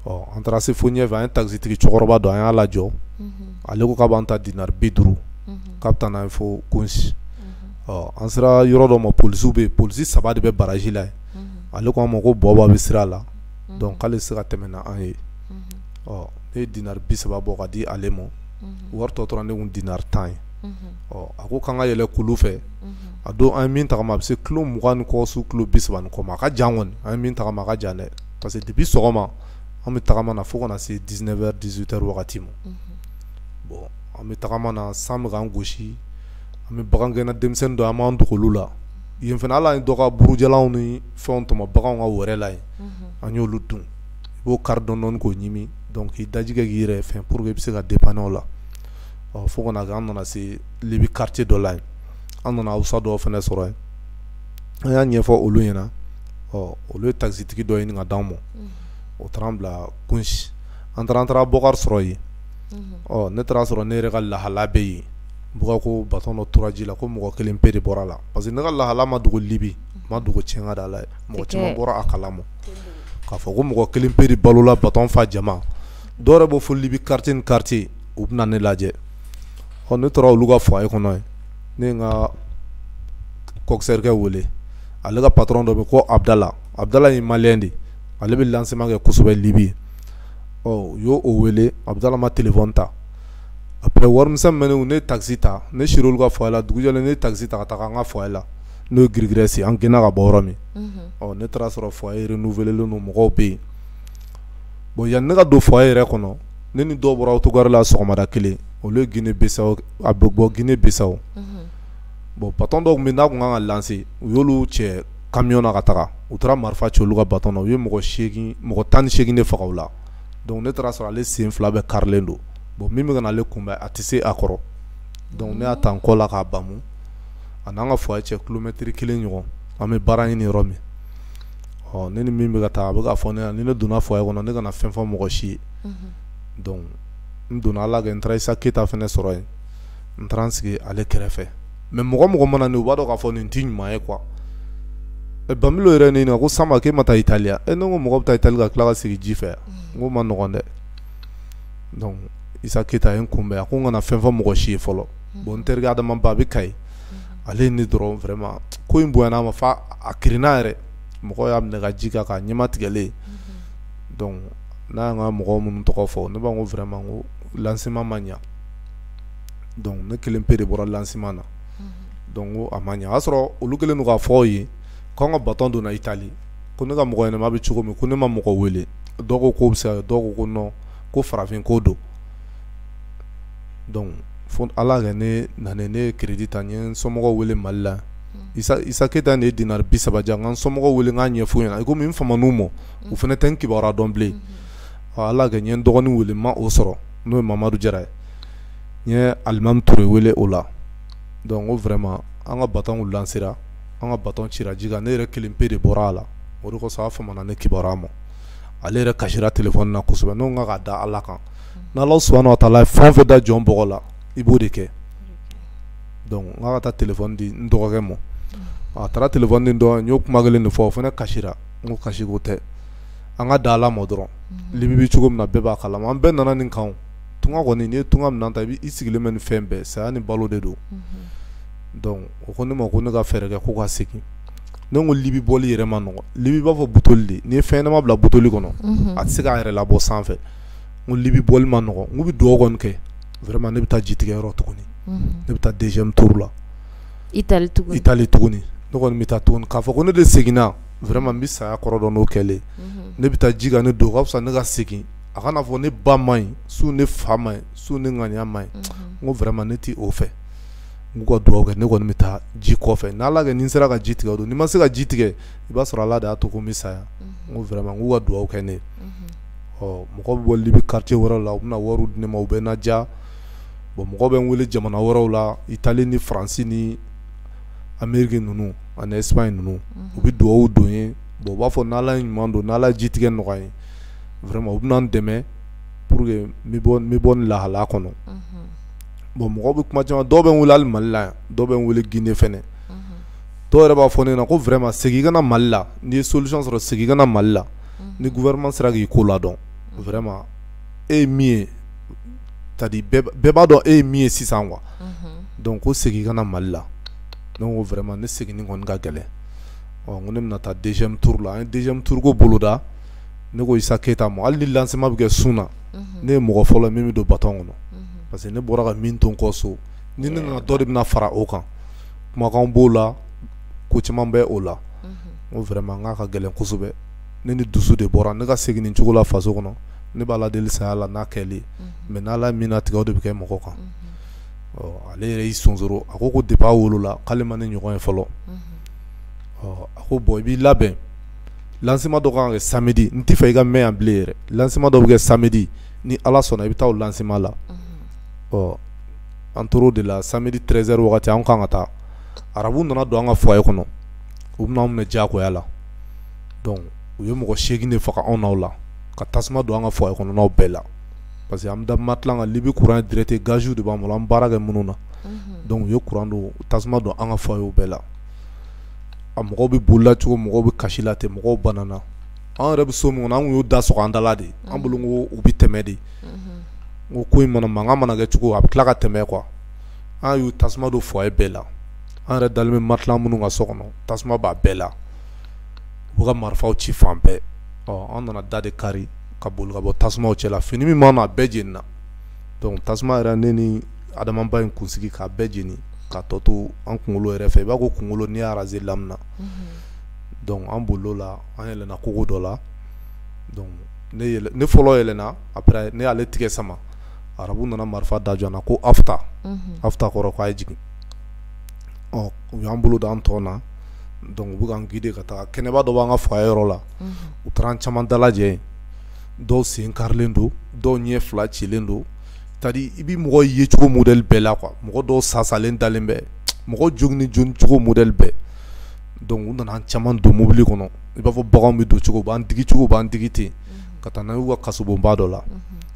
ɔ an taara se fo ɲɛfɛ an ye takisitigi cɛkɔrɔba dɔ an y'a lajɔ ale ko k'a b'an ta dinari bi duuru k'a bɛ taa n'an ye fo konsi ɔ an sera yɔrɔ dɔ ma polisiw bɛ yen polisi saba de bɛ baraji la yen ale ko an ma ko bɔba bɛ sira la dɔnku k'ale se ka tɛmɛ n'an ye ɔ ne ye dinari bi saba bɔ ka di ale ma wari tɔ tora ne kun dinari tan ye ɔ a ko k'an ka yɛlɛ kulu fɛ a don an ye min tagama a bɛ se kilo mugan ni kɔ su kilo bisaba ni kɔ a ka jan kɔni an ye min tagama a ka jan dɛ parce que depuis sɔgɔma an bɛ tagama na fo ka na se dix-neuf heures dix-huit heures wagati ma bon an bɛ tagama na san bɛ k'an gosi an bɛ bagangɛnna denmisɛnnin dɔw an b'an dogo olu la yen fana ala ye dɔ ka buru jalanw ni fɛn tɔmɔ baganw ka wɛrɛ la yen an y'olu dun i b'o kari dɔɔni k'o ɲimi donc k'i daji kɛ k'i yɛrɛ fɛn pour que i bɛ se ka dépanner o la ɔ fo ka na kɛ an nana se libi quartier dɔ la yen an nana awusa dɔw fana sɔrɔ yen an y'a ɲɛfɔ olu ɲɛna ɔ olu ye takisitigi dɔ ɲini ka d'an ma mm. o taara an bila kunsi an taara an taara bukari sɔrɔ yen mm-hmm. ɔ ne taara sɔrɔ ne yɛrɛ ka lahala bɛ yen bukari ko batɔn dɔ tora ji la ko mɔgɔ kelen pe de bɔra la parce que ne ka lahala ma dogo libi mm-hmm. ma dogo tiɲɛka da la mɔgɔ caman bɔra a kalama k'a fɔ ko mɔgɔ kelen pe de balola batɔn fa jama dɔw yɛrɛ bɔ fo libi quartier ni quartier u bɛ na ne lajɛ ɔ ne tora olu ka foyer kɔnɔ yen ne ye n ka kɔkisɛrikɛ wele ale ka patron dɔ bɛ ko abdala abdala ye maliyɛn de ale bɛ lancement kɛ kosɛbɛ libi ɔ u y'o o wele abdala ma telefɔni ta après warimisɛn min bɛ ne ne ye takisi ta ne sira olu ka foyer la dugujɛlen ne ye takisi ta ka taga an ka foyer la n'o ye girigirɛsi an gɛnna ka bɔ yɔrɔ min ɔ ne taara sɔrɔ foyer renouvelelen don mɔgɔw bɛ yen bon yanni ne ka don foyer yɛrɛ kɔnɔ ne ni dɔw bɔra autogare la sɔgɔmada kelen olu guinée bissau a bɛ bɔ guinée bissau bon batɔn dɔw minnu tun ka kan ka lancer u y'olu cɛ kamiyɔn na ka taga u taara marifa ci olu ka batɔn na u ye mɔgɔ tan ni segin de faga u la donc ne taara sɔrɔ ale sen fila bɛɛ karilen don bon min bɛ ka na ale kunbɛn a tɛ se a kɔrɔ donc ne y'a ta n kɔ la k'a bamu a n'an ka foyer cɛ kilomɛtiri kelen ɲɔgɔn an bɛ baara ɲini yɔrɔ min ɔ ne ni min bɛ ka taa a bɛ k'a fɔ ne ɲɛna ni ne donna foyer kɔnɔ ne kana fɛn fɔ mɔgɔ si ye donc n donna ala kɛ n taara isa keyita fana sɔrɔ yen n taara sigi ale kɛrɛfɛ mais mɔgɔ o mɔgɔ mana ne ye u b'a dɔn k'a fɔ nin tɛ ɲuman ye quoi ban yɛrɛ ne ɲininka ko sanba k'e ma taa itali e ne ko mɔgɔ bɛ taa itali ka tila ka segin ji fɛ n ko man nɔgɔn dɛ donc isa keyita ye n kunbɛn a ko n kana fɛn fɔ mɔgɔ si ye fɔlɔ bon n terikɛ adama ba bɛ kayi ale ye ne dɔrɔn vraiment ko in bonyana a ma fo a kirinna yɛrɛ mɔgɔw y'a minɛ ka ji k'a kan ɲɛma tigɛlen n'a y'an ka mɔgɔ minnu tɔgɔ fɔ ne b'a ko vraiment ko lancement ma ɲɛ ne kelen pe de bɔra lancement na ko a ma ɲɛ y'a sɔrɔ olu kelen don k'a fɔ u ye k'an ka batɔn donna itali ko ne ka mɔgɔ ɲɛnama bɛ cogo min ko ne ma mɔgɔ wele dɔw ko k'o bɛ se dɔw ko ko farafin ko don donc fo ala kɛ ne nana ne ye crédit ta n ye n somɔgɔw wele mali la isa keyita ne ye dinar bi saba di yan n ka n somɔgɔw wele n k'a ɲɛf'u ɲɛna komi n faman'u ma u fana tɛ n kibaruya dɔn bilen ala kɛ n ye n dɔgɔnin wele n ma o sɔrɔ n'o ye mamadu jara ye n ye alimami ture wele o la donc ko vraiment an ka baton lancera an ka baton cira ji kan ne yɛrɛ kelen pe de bɔra a la o de kosɔn a famana ne kibaruya ma ale yɛrɛ kasira téléphone na kosɛbɛ n k'a ka da ala kan n'ala subahana wa taala ye fɛn o fɛn da jɔn bɔgɔ la i b'o de kɛ donc n k'a ka taa téléphone di n dɔgɔkɛ ma a taara téléphone di n dɔgɔkɛ n y'o kuma kelen de fɔ o fana kasira n ko kasiko tɛ an ka da ala ma dɔrɔn libi bɛ cogo min na bɛɛ b'a kalama an bɛɛ nana nin kan tunga kɔni n'i ye tunga minɛn ta i b'i sigilen bɛ ni fɛn bɛɛ saya ni balo de don o ko ne ma ko ne ka fɛɛrɛ kɛ ko ka segin ne ko libi bɔli yɛrɛ ma nɔgɔ libi b'a fɔ butoli de n'i ye fɛn ɲɛnama bila butoli kɔnɔ a tɛ se k'a yɛrɛ labɔ sanfɛ n ko libi bɔli ma nɔgɔ n k'u bɛ dugawu kɔni kɛ vraiment ne bɛ taa jitigɛ yɔrɔ tuguni ne bɛ taa deuxième tour la Italie tuguni Italie tuguni ne kɔni bɛ taa tuguni k'a fɔ ko ne de seginna vraiment n bɛ saya kɔrɔ dɔn n'o kɛlen ne bɛ taa ji ka ne dun o ka fisa ne ka segin a kana fɔ ne ba man ɲi so ne fa man ɲi so ne ŋaniya man ɲi n ko vraiment ne tɛ o fɛ n k'u ka dugawu kɛ ne kɔni bɛ taa ji kɔfɛ n'Ala kɛ ni n sera ka ji tigɛ o don ni n ma se ka ji tigɛ i b'a sɔrɔ Ala de y'a to ko n bɛ saya n ko vraiment n k'u ka dugawu kɛ ne ye. ɔ mɔgɔ bɛ bɔ libi quartier wɛrɛw la u bɛna wariw di ne ma u bɛ n ladiya bon mɔgɔ bɛ n wele jamana wɛrɛw la Italie ni France ni Amerique ninnu ani Espagne ninnu u bɛ dugawu don n ye bon u b'a fɔ ni Ala ye ɲuman don ni Ala ye jitigɛ nɔgɔya n ye vraiment u bɛna n dɛmɛ pour que n bɛ bɔ n bɛ bɔ nin lahalaya kɔnɔ bon mɔgɔw bɛ kuma caman dɔw bɛ n wele hali Mali la yan dɔw bɛ n wele Guinee fana dɔw yɛrɛ b'a fɔ ne ɲɛna ko vraiment segin i ka na Mali la n'i ye solution sɔrɔ segin i ka na Mali la ni gouvernement sera k'i ko ladɔn vraiment e ye min ye c'est à dire bɛɛ b'a dɔn e ye min ye sisan quoi donc ko segin i ka na Mali la ne ko vraiment ne seginni kɔni ka gɛlɛn ɔ n ko ne bɛna taa deuxième tour la an ye deuxième tour ko boloda ne ko Issa Keita ma hali ni lancement bɛ kɛ su in na ne ye mɔgɔ fɔlɔ ye min bɛ don baton kɔnɔ parce que ne bɔra ka min to n kɔ so ni ne nana dɔ de bɛna fara o kan kumakanw b'o la ko caman bɛ o la n ko vraiment n k'a ka gɛlɛn kosɛbɛ ne ni dusu de bɔra ne ka segin nin cogo la faso kɔnɔ ne b'ala deli saya la n'a kɛli mais n'ala min natigɛ o de bɛ kɛ mɔgɔ kan ale yɛrɛ y'i sonsoro a ko depuis a wolola k'ale ma ne ɲɔgɔn ye fɔlɔ a ko bon i b'i labɛn lancement dɔ kan ka kɛ samedi n tɛ fɛ i ka mɛn yan bilen yɛrɛ lancement dɔ bɛ kɛ samedi ni ala sɔnna i bɛ taa o lancement la ɔ an tor'o de la samedi treize heures wagati an kan ka taa arabuw nana don an ka foyer kɔnɔ u bɛna an minɛ diyagoya la donc u ye mɔgɔ seegin de faga anw n'aw la ka tasuma don an ka foyer kɔnɔnaw bɛɛ la parce que an bɛ da matelas kan libi kuran direct gaziw de b'an bolo an baara kɛ minnu na donc u ye kuran don tasuma don an ka foyerw bɛɛ la a mɔgɔw bɛ bolila cogo mɔgɔw bɛ kasi la ten mɔgɔw banna an yɛrɛ bɛ so min kɔnɔ an y'o da sɔgɔ an dala de an bolo ko u bɛ tɛmɛ de ko ko in mana mankan mana kɛ cogo a bɛ tila ka tɛmɛ quoi an y'u tasuma don foyer bɛɛ la an yɛrɛ dalen bɛ matelas minnu kan so kɔnɔ tasuma b'a bɛɛ la u ka marifaw ci fan bɛɛ ɔ an nana da de kari ka boli ka bɔ tasuma cɛ la fini min b'an na a bɛɛ jenina donc tasuma yɛrɛ ne ni adamaba in kunsigi k'a bɛɛ jeni ka tɔ to an kunkolo yɛrɛ fɛ i b'a ko kunkolo n'i y'a raser lamina donc an bolila an yɛlɛna kogo dɔ la ne fɔlɔ yɛlɛna après ne y'ale tigɛ sama arabuw nana marifa da jɔ an na ko afta afta kɔrɔ k'a ye jigin ɔ u y'an bolo da an tɔn na donc u bɛ k'an guider ka taa kɛnɛba dɔ b'an ka foyer yɔrɔ la u taara an caman dalajɛ yen dɔw sen karilen don dɔw ɲɛ fila cilen don c'est-à-dire i bɛ mɔgɔ ye cogo modèle bɛɛ la quoi mɔgɔ dɔw sasalen dalen bɛ mɔgɔ joginnen jogin cogo modèle bɛɛ donc u nana an caman don mobili kɔnɔ i b'a fɔ baganw bɛ don cogo u b'an digi cogo u b'an digi ten ka taa n'an ye u ka kasobonba dɔ la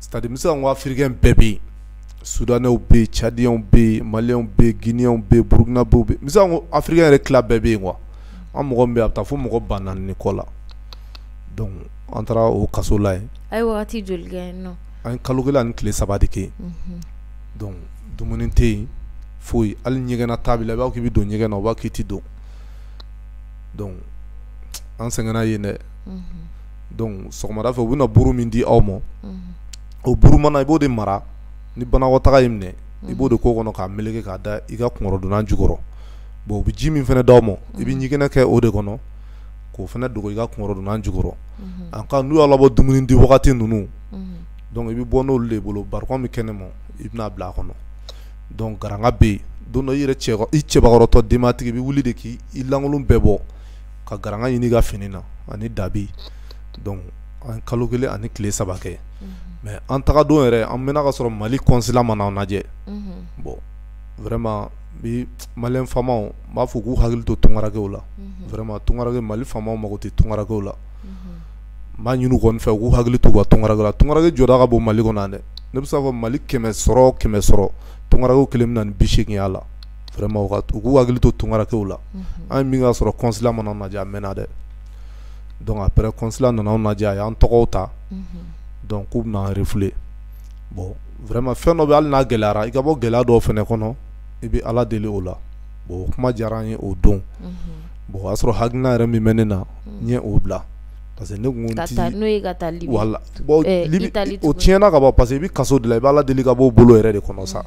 c'est-à-dire n bɛ se ka n ko afirikɛn bɛɛ bɛ yen sudanɛw bɛ yen cadiyɛnw bɛ yen maliyɛnw bɛ yen ginɛyɛnw bɛ yen burukinabew bɛ yen n bɛ se ka n ko afiriki yɛrɛ tila bɛɛ bɛ yen quoi an mɔgɔ bɛ a bɛ taa fo mɔgɔ ba naani ni kɔ la an taara o kaso la yen a ye joli an ye kalo kelen ani tile saba de kɛ dumuni tɛ yen foyi hali ɲɛgɛnna taa b'i la i b'a fɔ k'i bɛ don ɲɛgɛn na u b'a fɔ k'i tɛ don an sɛgɛnna yen dɛ donc sɔgɔmada fɛ u bɛna buru min di aw ma o buru mana i b'o de mara ni banakɔtaa y'i minɛ i b'o de k'o kɔnɔ k'a meleke k'a da i ka kunkɔrɔdonnan jukɔrɔ bon u bɛ ji min fana d' aw ma i bɛ ɲɛgɛnɛ kɛ o de kɔnɔ k'o fana dogo i ka kunkɔrɔdonnan jukɔrɔ en cas n'u y'aw labɔ dumuni di wagati ninnu donc i bɛ bɔ n'o de bolo barikon bɛ kɛnɛ ma i bɛn'a bila a kɔnɔ donc garanga bɛ yen don dɔ i yɛrɛ cɛ i cɛbakɔrɔtɔ denbatigi i bɛ wuli de k' i lankolon bɛɛ bɔ ka garanga ɲini i ka fini na ani dabi donc an kalo kelen ani tile saba kɛ mais an taga don yɛrɛ an mɛnna ka sɔrɔ mali consulat ma na an lajɛ bon vraiment bi malien faamaw n b'a fɔ k'u hakili to tungarakew la vraiment tungarake mali faamaw mago tɛ tungarakew la n b'a ɲini u kɔni fɛ k'u hakili to u ka tungarake la tungarake jɔda ka bon mali kɔnɔ yan dɛ ne bɛ se k'a fɔ mali kɛmɛ sɔrɔ kɛmɛ sɔrɔ tungarakew kelen bɛ na ni bi seegin y'a la hakili to tunkarankɛw la an ye min ka sɔrɔ kɔnsila ma n'an lajɛ a mɛnna dɛ donc après kɔnsila nana anw lajɛ a y'an tɔgɔw ta donc k'u bɛna refouler bon vraiment fɛn dɔ bɛ hali n'a gɛlɛyara i ka bɔ gɛlɛya dɔ fana kɔnɔ i bɛ ala deli o la o kuma diyara an ye o don bon o y'a sɔrɔ hakilina yɛrɛ min bɛ ne na n ye o bila parce que ne kun ti n'o ye ka taa Libi wala bon Libi o tiɲɛna ka ban parce que i bɛ kaso de la i bɛ ala deli ka b'o bolo yɛrɛ de kɔnɔ sa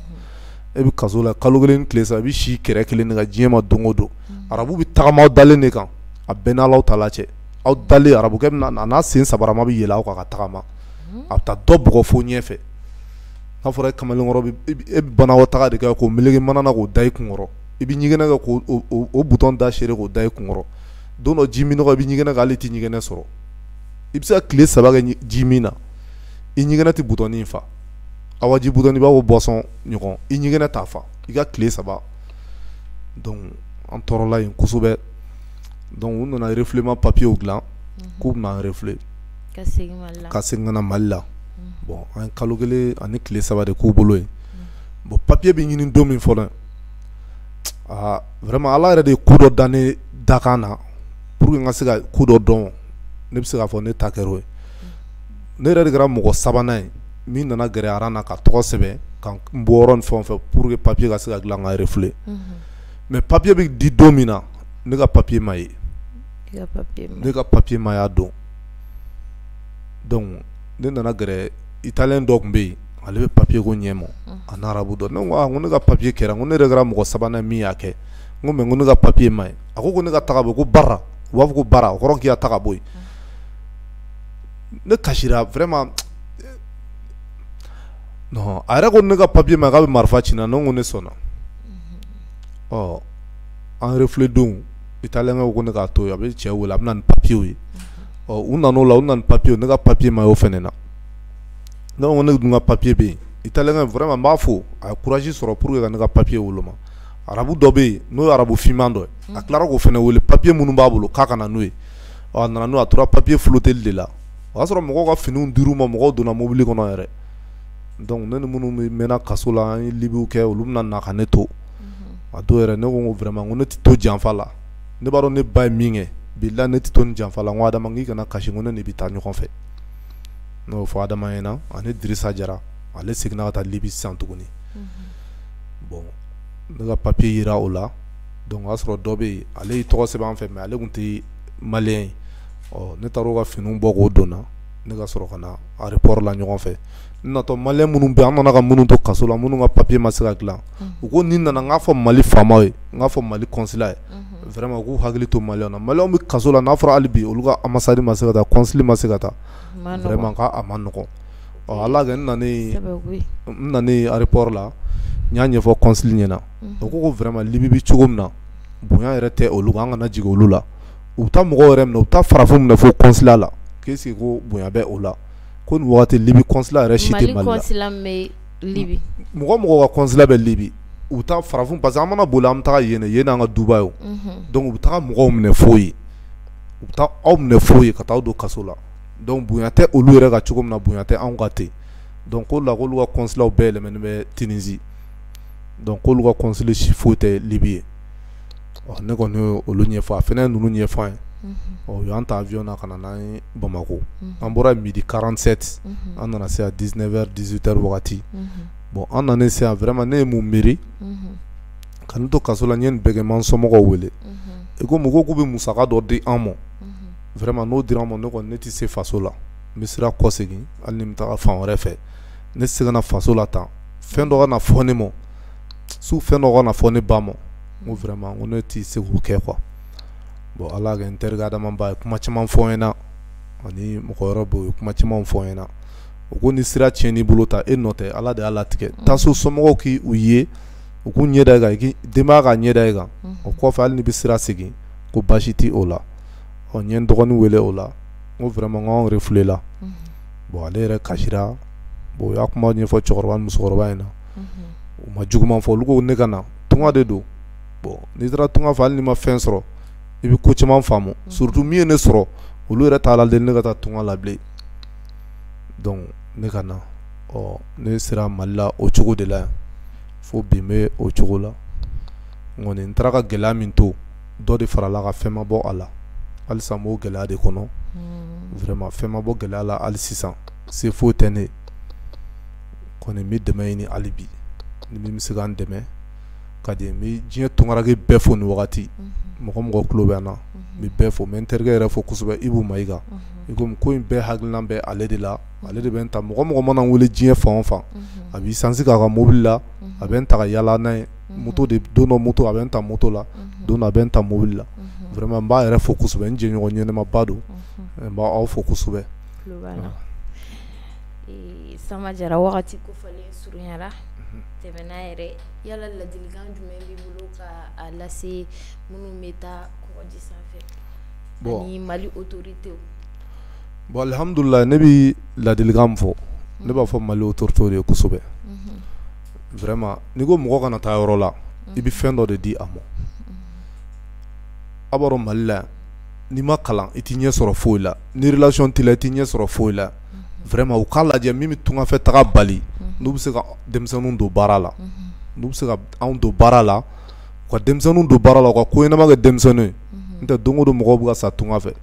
e bɛ kaso la kalo kelen tile saba i bɛ si kɛrɛ kelen nin kan diɲɛ ma don o don arabu bɛ tagama aw dalen de kan a bɛn n' aw ta cɛ aw dalen arabukɛ bɛ na a n'a sen sabarama bɛ yɛlɛ aw kan ka tagama a bɛ taa dɔ bugɔ fo ɲɛfɛ n'a fɔra kamalenkɔrɔ e bɛ banakɔtaga de kɛ k'o meleke mana na k'o da i kunkɔrɔ i bɛ ɲɛgɛnɛ kɛ k'o butɔn da siri k'o da i kunkɔrɔ don dɔ ji minnɔgɔ i bɛ ɲɛgɛnɛ kɛ hali i tɛ ɲɛgɛnɛ sɔrɔ i bɛ se ka tile saba kɛ ji min na i ɲɛgɛnɛ tɛ butɔnin fa awa ji butɔnin i b'a fɔ boisson ɲɔgɔn i ɲɛgɛnɛ t'a fa i ka tile saba donc an tɔɔrɔla yen kosɛbɛ donc u nana refoulement papiyew dilan k'u bɛna an refouler ka segin ka na mali la bon an kalo kelen ani tile saba de k'u bolo yen bon papiye bɛ ɲini don min fɔlɔ vraiment ala yɛrɛ de ye ko dɔ da ne dakan na pour que n ka se ka ko dɔ dɔn ne bɛ se k'a fɔ ne ta kɛra o ye ne yɛrɛ de kɛra mɔgɔ sabanan ye min nana gɛrɛ aran na ka tɔgɔ sɛbɛn ka n bɔyɔrɔ ni fɛn o fɛn pour que papiye ka se ka dilan ka refouler mais papiye bɛ di don min na ne ka papiye ma ye ne ka papiye ma y'a don donc ne nana gɛrɛ italien dɔ tun bɛ yen ale bɛ papiye ko ɲɛ ma a n'arabu dɔ ne ko ne ka papiye kɛra ko ne yɛrɛ kɛra mɔgɔ sabanan min y'a kɛ n ko mais ko ne ka papiye ma ye a ko ne ka taga bɔ ko bara u b'a fɔ ko bara o kɔrɔ k'i ka taga bɔ yen ne kasira vraiment a yɛrɛ ko ne ka papiye ma k'a bɛ marifa ci n na ne ko ne sɔnna ɔ an refouler don italien ko ne k'a to yen a bɛ cɛ wele a bɛ na ni papiyew ye ɔ u nana o la u nana ni papiye ne ka papiye ma y'o fana na ne ko ne dun ka papiye bɛ yen italien vraiment n b'a fo a ye courage sɔrɔ pour ka ne ka papiye woloma arabu dɔ bɛ yen n'o arabu finman dɔ a tilara k'o fana wele papiye minnu b'a bolo k'a ka na n'o ye ɔ a nana n'o ye a tora papier floteli de la o y'a sɔrɔ mɔgɔw ka finiw dir'u ma mɔgɔw donna mobili kɔnɔ yɛrɛ donc ne ni minnu bɛɛ mɛnna kaso la an ye libiw kɛ olu bɛna na ka ne to a don yɛrɛ ne ko n ko vraiment n ko ne tɛ to janfa la ne b'a dɔn ne ba ye min kɛ bilahi ne tɛ to nin janfa la n ko Adama n k'i kana kasi n ko ne n'i bɛ taa ɲɔgɔn fɛ ne y'o fɔ Adama ɲɛna ani Dirisa Jara ale seginna ka taa Libi sisan tuguni bon ne ka papier yera o la donc o y'a sɔrɔ dɔ bɛ yen ale y'i tɔgɔ sɛbɛn an fɛ mais ale tun tɛ malien ye ɔ ne taara a ka finiw bɔ k'o donna ne ka sɔrɔ ka na aéroport la ɲɔgɔn fɛ n natɔ malien minnu bɛ an nana ka minnu to kaso la minnu ka papiye ma se ka dilan u ko ni n nana n k'a fɔ mali faamaw ye n k'a fɔ mali consulat ye vraiment u k'u hakili to malien na malien bɛ kaso la n'a fɔra hali bi olu ka ambassade ma se ka taa consul ma se ka taa vraiment a man nɔgɔn ɔ ala kɛ n nanen aéroport la n y'a ɲɛfɔ consul ɲɛna o ko vraiment libi bɛ cogo min na bonya yɛrɛ tɛ olu kan an kana jigin olu la u bɛ taa mɔgɔw yɛrɛ minɛ u bɛ taa farafin minɛ fo consulat la k'i sigi ko bonya bɛ o la ko nin waati libi consulat yɛrɛ si tɛ mali la mali consulat bɛ libi mɔgɔ mɔgɔ ka consulat bɛ libi u bɛ taa farafin parce que an mana boli an bɛ taa yen yen y'an ka duba ye donc u bɛ taa mɔgɔw minɛ fo yen u bɛ taa aw minɛ fo yen ka taa aw don kaso la donc bonya tɛ olu yɛrɛ kan cogo min na bonya tɛ anw kan ten donc k'o la olu ka consulat bɛɛ yɛlɛmanen bɛ tunisie donc k'olu ka consulat si foyi tɛ libi yen ɔ ne kɔni ye olu ɲɛfɔ a fana ye ninnu ɲɛfɔ an ye ɔ u y'an ta avion na ka na n'an ye bamakɔ an bɔra midi quarante-sept an nana se à dix-neuf heures dix-huit heures wagati bon an nanen se yan vraiment ne ye mun miiri ka n to kaso la n ye nin bɛɛ kɛ n ma n somɔgɔw wele i ko mɔgɔw k'u bɛ musaka dɔ di an ma vraiment n'o dira an ma ne kɔni ne tɛ se faso la n bɛ sira kɔsegin hali ni n bɛ taa fan wɛrɛ fɛ ne tɛ se ka na faso la tan fɛn dɔ ka na fɔ ne ma so fɛn dɔ ka na fɔ ne ba ma n ko vraiment n ko ne tɛ se k'o kɛ quoi bon ala y'a kɛ n terikɛ adama ba ye kuma caman fɔ n ɲɛna ani mɔgɔ wɛrɛ bɛ yen u ye kuma caman fɔ n ɲɛna u ko ni sira tiɲɛn'i bolo ta e nɔ tɛ ala de y'a latigɛ mm. taa so somɔgɔw k'i ye u k'u ɲɛ da i kan denbaya ka ɲɛ da i kan mm. o kɔfɛ hali n'i bɛ sira segin ko baasi tɛ o la ɔ n ye n dɔgɔnin wele o la n ko vraiment n ko anw refulela mm. bon ale yɛrɛ kasira bon u y'a kuma ɲɛfɔ cɛkɔrɔba ni musokɔrɔba in na u ma juguman fɔ olu ko ne ka na tunga de don bon n'i taara tunga fɛ hali n'i ma fɛn sɔrɔ i bɛ ko caman faamu surtout min ye ne sɔrɔ olu yɛrɛ t'a la ne ka taa tunga la bilen ne ka na ɔ ne sera mali la o cogo de la yan fo bi n bɛ o cogo la n kɔni n taara ka gɛlɛya min to dɔ de farala a kan fɛn ma bɔ a la halisa n b'o gɛlɛya de kɔnɔ vraiment fɛn ma bɔ gɛlɛya la hali sisan se foyi tɛ ne kɔni n bɛ dɛmɛ ɲini hali bi ni min bɛ se ka n dɛmɛ ka di n bɛ diɲɛ tungaranke bɛɛ fo nin wagati mɔgɔ mɔgɔ tulo bɛ n na n bɛ bɛɛ fo n bɛ n terikɛ yɛrɛ fo kosɛbɛ ibu mayiga i komi ko in bɛɛ hakilina bɛ ale de la ale de bɛ n ta mɔgɔ mɔgɔ mana n wele diɲɛ fan o fan a bɛ essence k'a ka mobili la a bɛ taa yaala n'a ye moto de don dɔ moto a bɛ n ta moto la don dɔ a bɛ n ta mobili la vraiment n b'a yɛrɛ fo kosɛbɛ n jɛɲɔgɔn ɲɛnɛmaba don n b'aw fo kosɛbɛ Samba Jara wagati kofɔlen surunyara tɛmɛna yɛrɛ yala ladilikan jumɛn b'i bolo ka a lase minnu bɛ taa kɔgɔji sanfɛ ani Mali autorités bon alhamdulila ne bɛ ladilikan min fɔ ne b'a fɔ Mali autorités de ye kosɛbɛ vraiment n'i ko mɔgɔ kana taa yɔrɔ la i bɛ fɛn dɔ de di a ma a b'a dɔn Mali la n'i ma kalan i t'i ɲɛ sɔrɔ foyi la ni relation t'i la i t'i ɲɛ sɔrɔ foyi la vraiment u k'a lajɛ min bɛ tunga fɛ taga bali n'u bɛ se ka denmisɛnninw don baara la n'u bɛ se ka anw don baara la u ka denmisɛnninw don baara la u ka ko ɲɛnama kɛ denmisɛnninw ye n'o tɛ don o don mɔgɔw bɛ ka sa tunga fɛ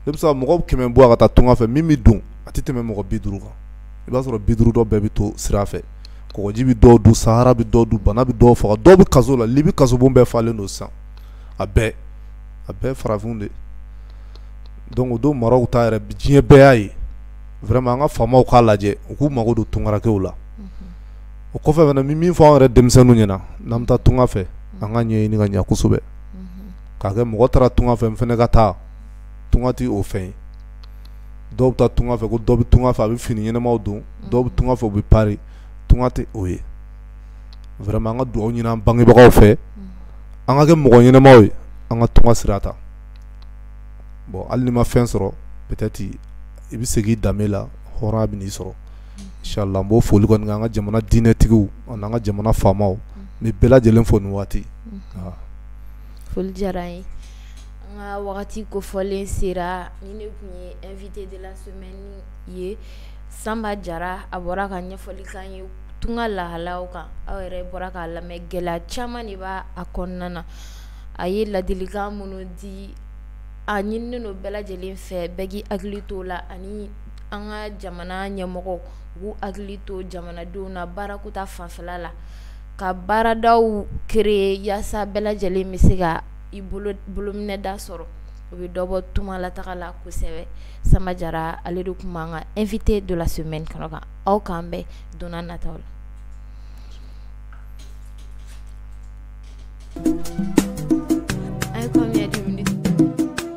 ne bɛ se ka mɔgɔ kɛmɛ bɔ a ka taa tunga fɛ min bɛ don a tɛ tɛmɛ mɔgɔ bi duuru kan i b'a sɔrɔ bi duuru dɔ bɛɛ bɛ to sira fɛ kɔgɔji bɛ dɔw dun sahara bɛ dɔw dun bana bɛ dɔw faga dɔw bɛ kaso la Libi kasobon bɛɛ falen don sisan a bɛɛ a bɛɛ farafin de don donc Maroc ta yɛrɛ diɲɛ bɛɛ y'a ye an ka faamaw k'a lajɛ u k'u mago don tungarankew la o kɔfɛ fana min fɔ anw yɛrɛ denmisɛnninw ɲɛna n'an bɛ taa tunga fɛ an k'a ɲɛɲini ka ɲɛ kosɛbɛ k'a kɛ mɔgɔ taara tunga fɛ n fana ka taa tunga tɛ o fɛn ye dɔw bɛ taa tunga fɛ ko dɔ bɛ tunga fɛ a bɛ fini ɲɛnamaw don dɔw bɛ tunga fɛ u bɛ Paris tunga tɛ o ye vraiment an ka dugawu ɲini an bangebagaw fɛ an ka kɛ mɔgɔ ɲɛnamaw ye an ka tunga sira ta bon hali n'i ma fɛn sɔrɔ peut-être i bɛ segin i danbe la hɔrɔnya bɛn'i sɔrɔ inchallah an b'o foli kɔni kɛ an ka jamana diinɛtigiw ani an ka jamana faamaw n bɛ bɛɛ lajɛlen fo nin waati foli diyara an ye an ka wagati kofɔlen sera nin tun ye invité de la semaine ye Samba Jara a bɔra ka ɲɛfɔli k'an ye tunga lahala kan aw yɛrɛ bɔra k'a lamɛn gɛlɛya caman de b'a kɔnɔna na a ye ladilikan minnu di a ɲininen don bɛɛ lajɛlen fɛ bɛɛ k'i hakili to la ani an ka jamana ɲɛmɔgɔw k'u hakili to jamanadenw na baarako ta fanfɛ la ka baaradaw créer yaasa bɛɛ lajɛlen bɛ se ka i bolominɛda sɔrɔ o bɛ dɔ bɔ tunga lataaga la kosɛbɛ Samba Jara ale de tun b'an ka invité de la semaine kɛnɛ kan aw k'an bɛn donna nataw la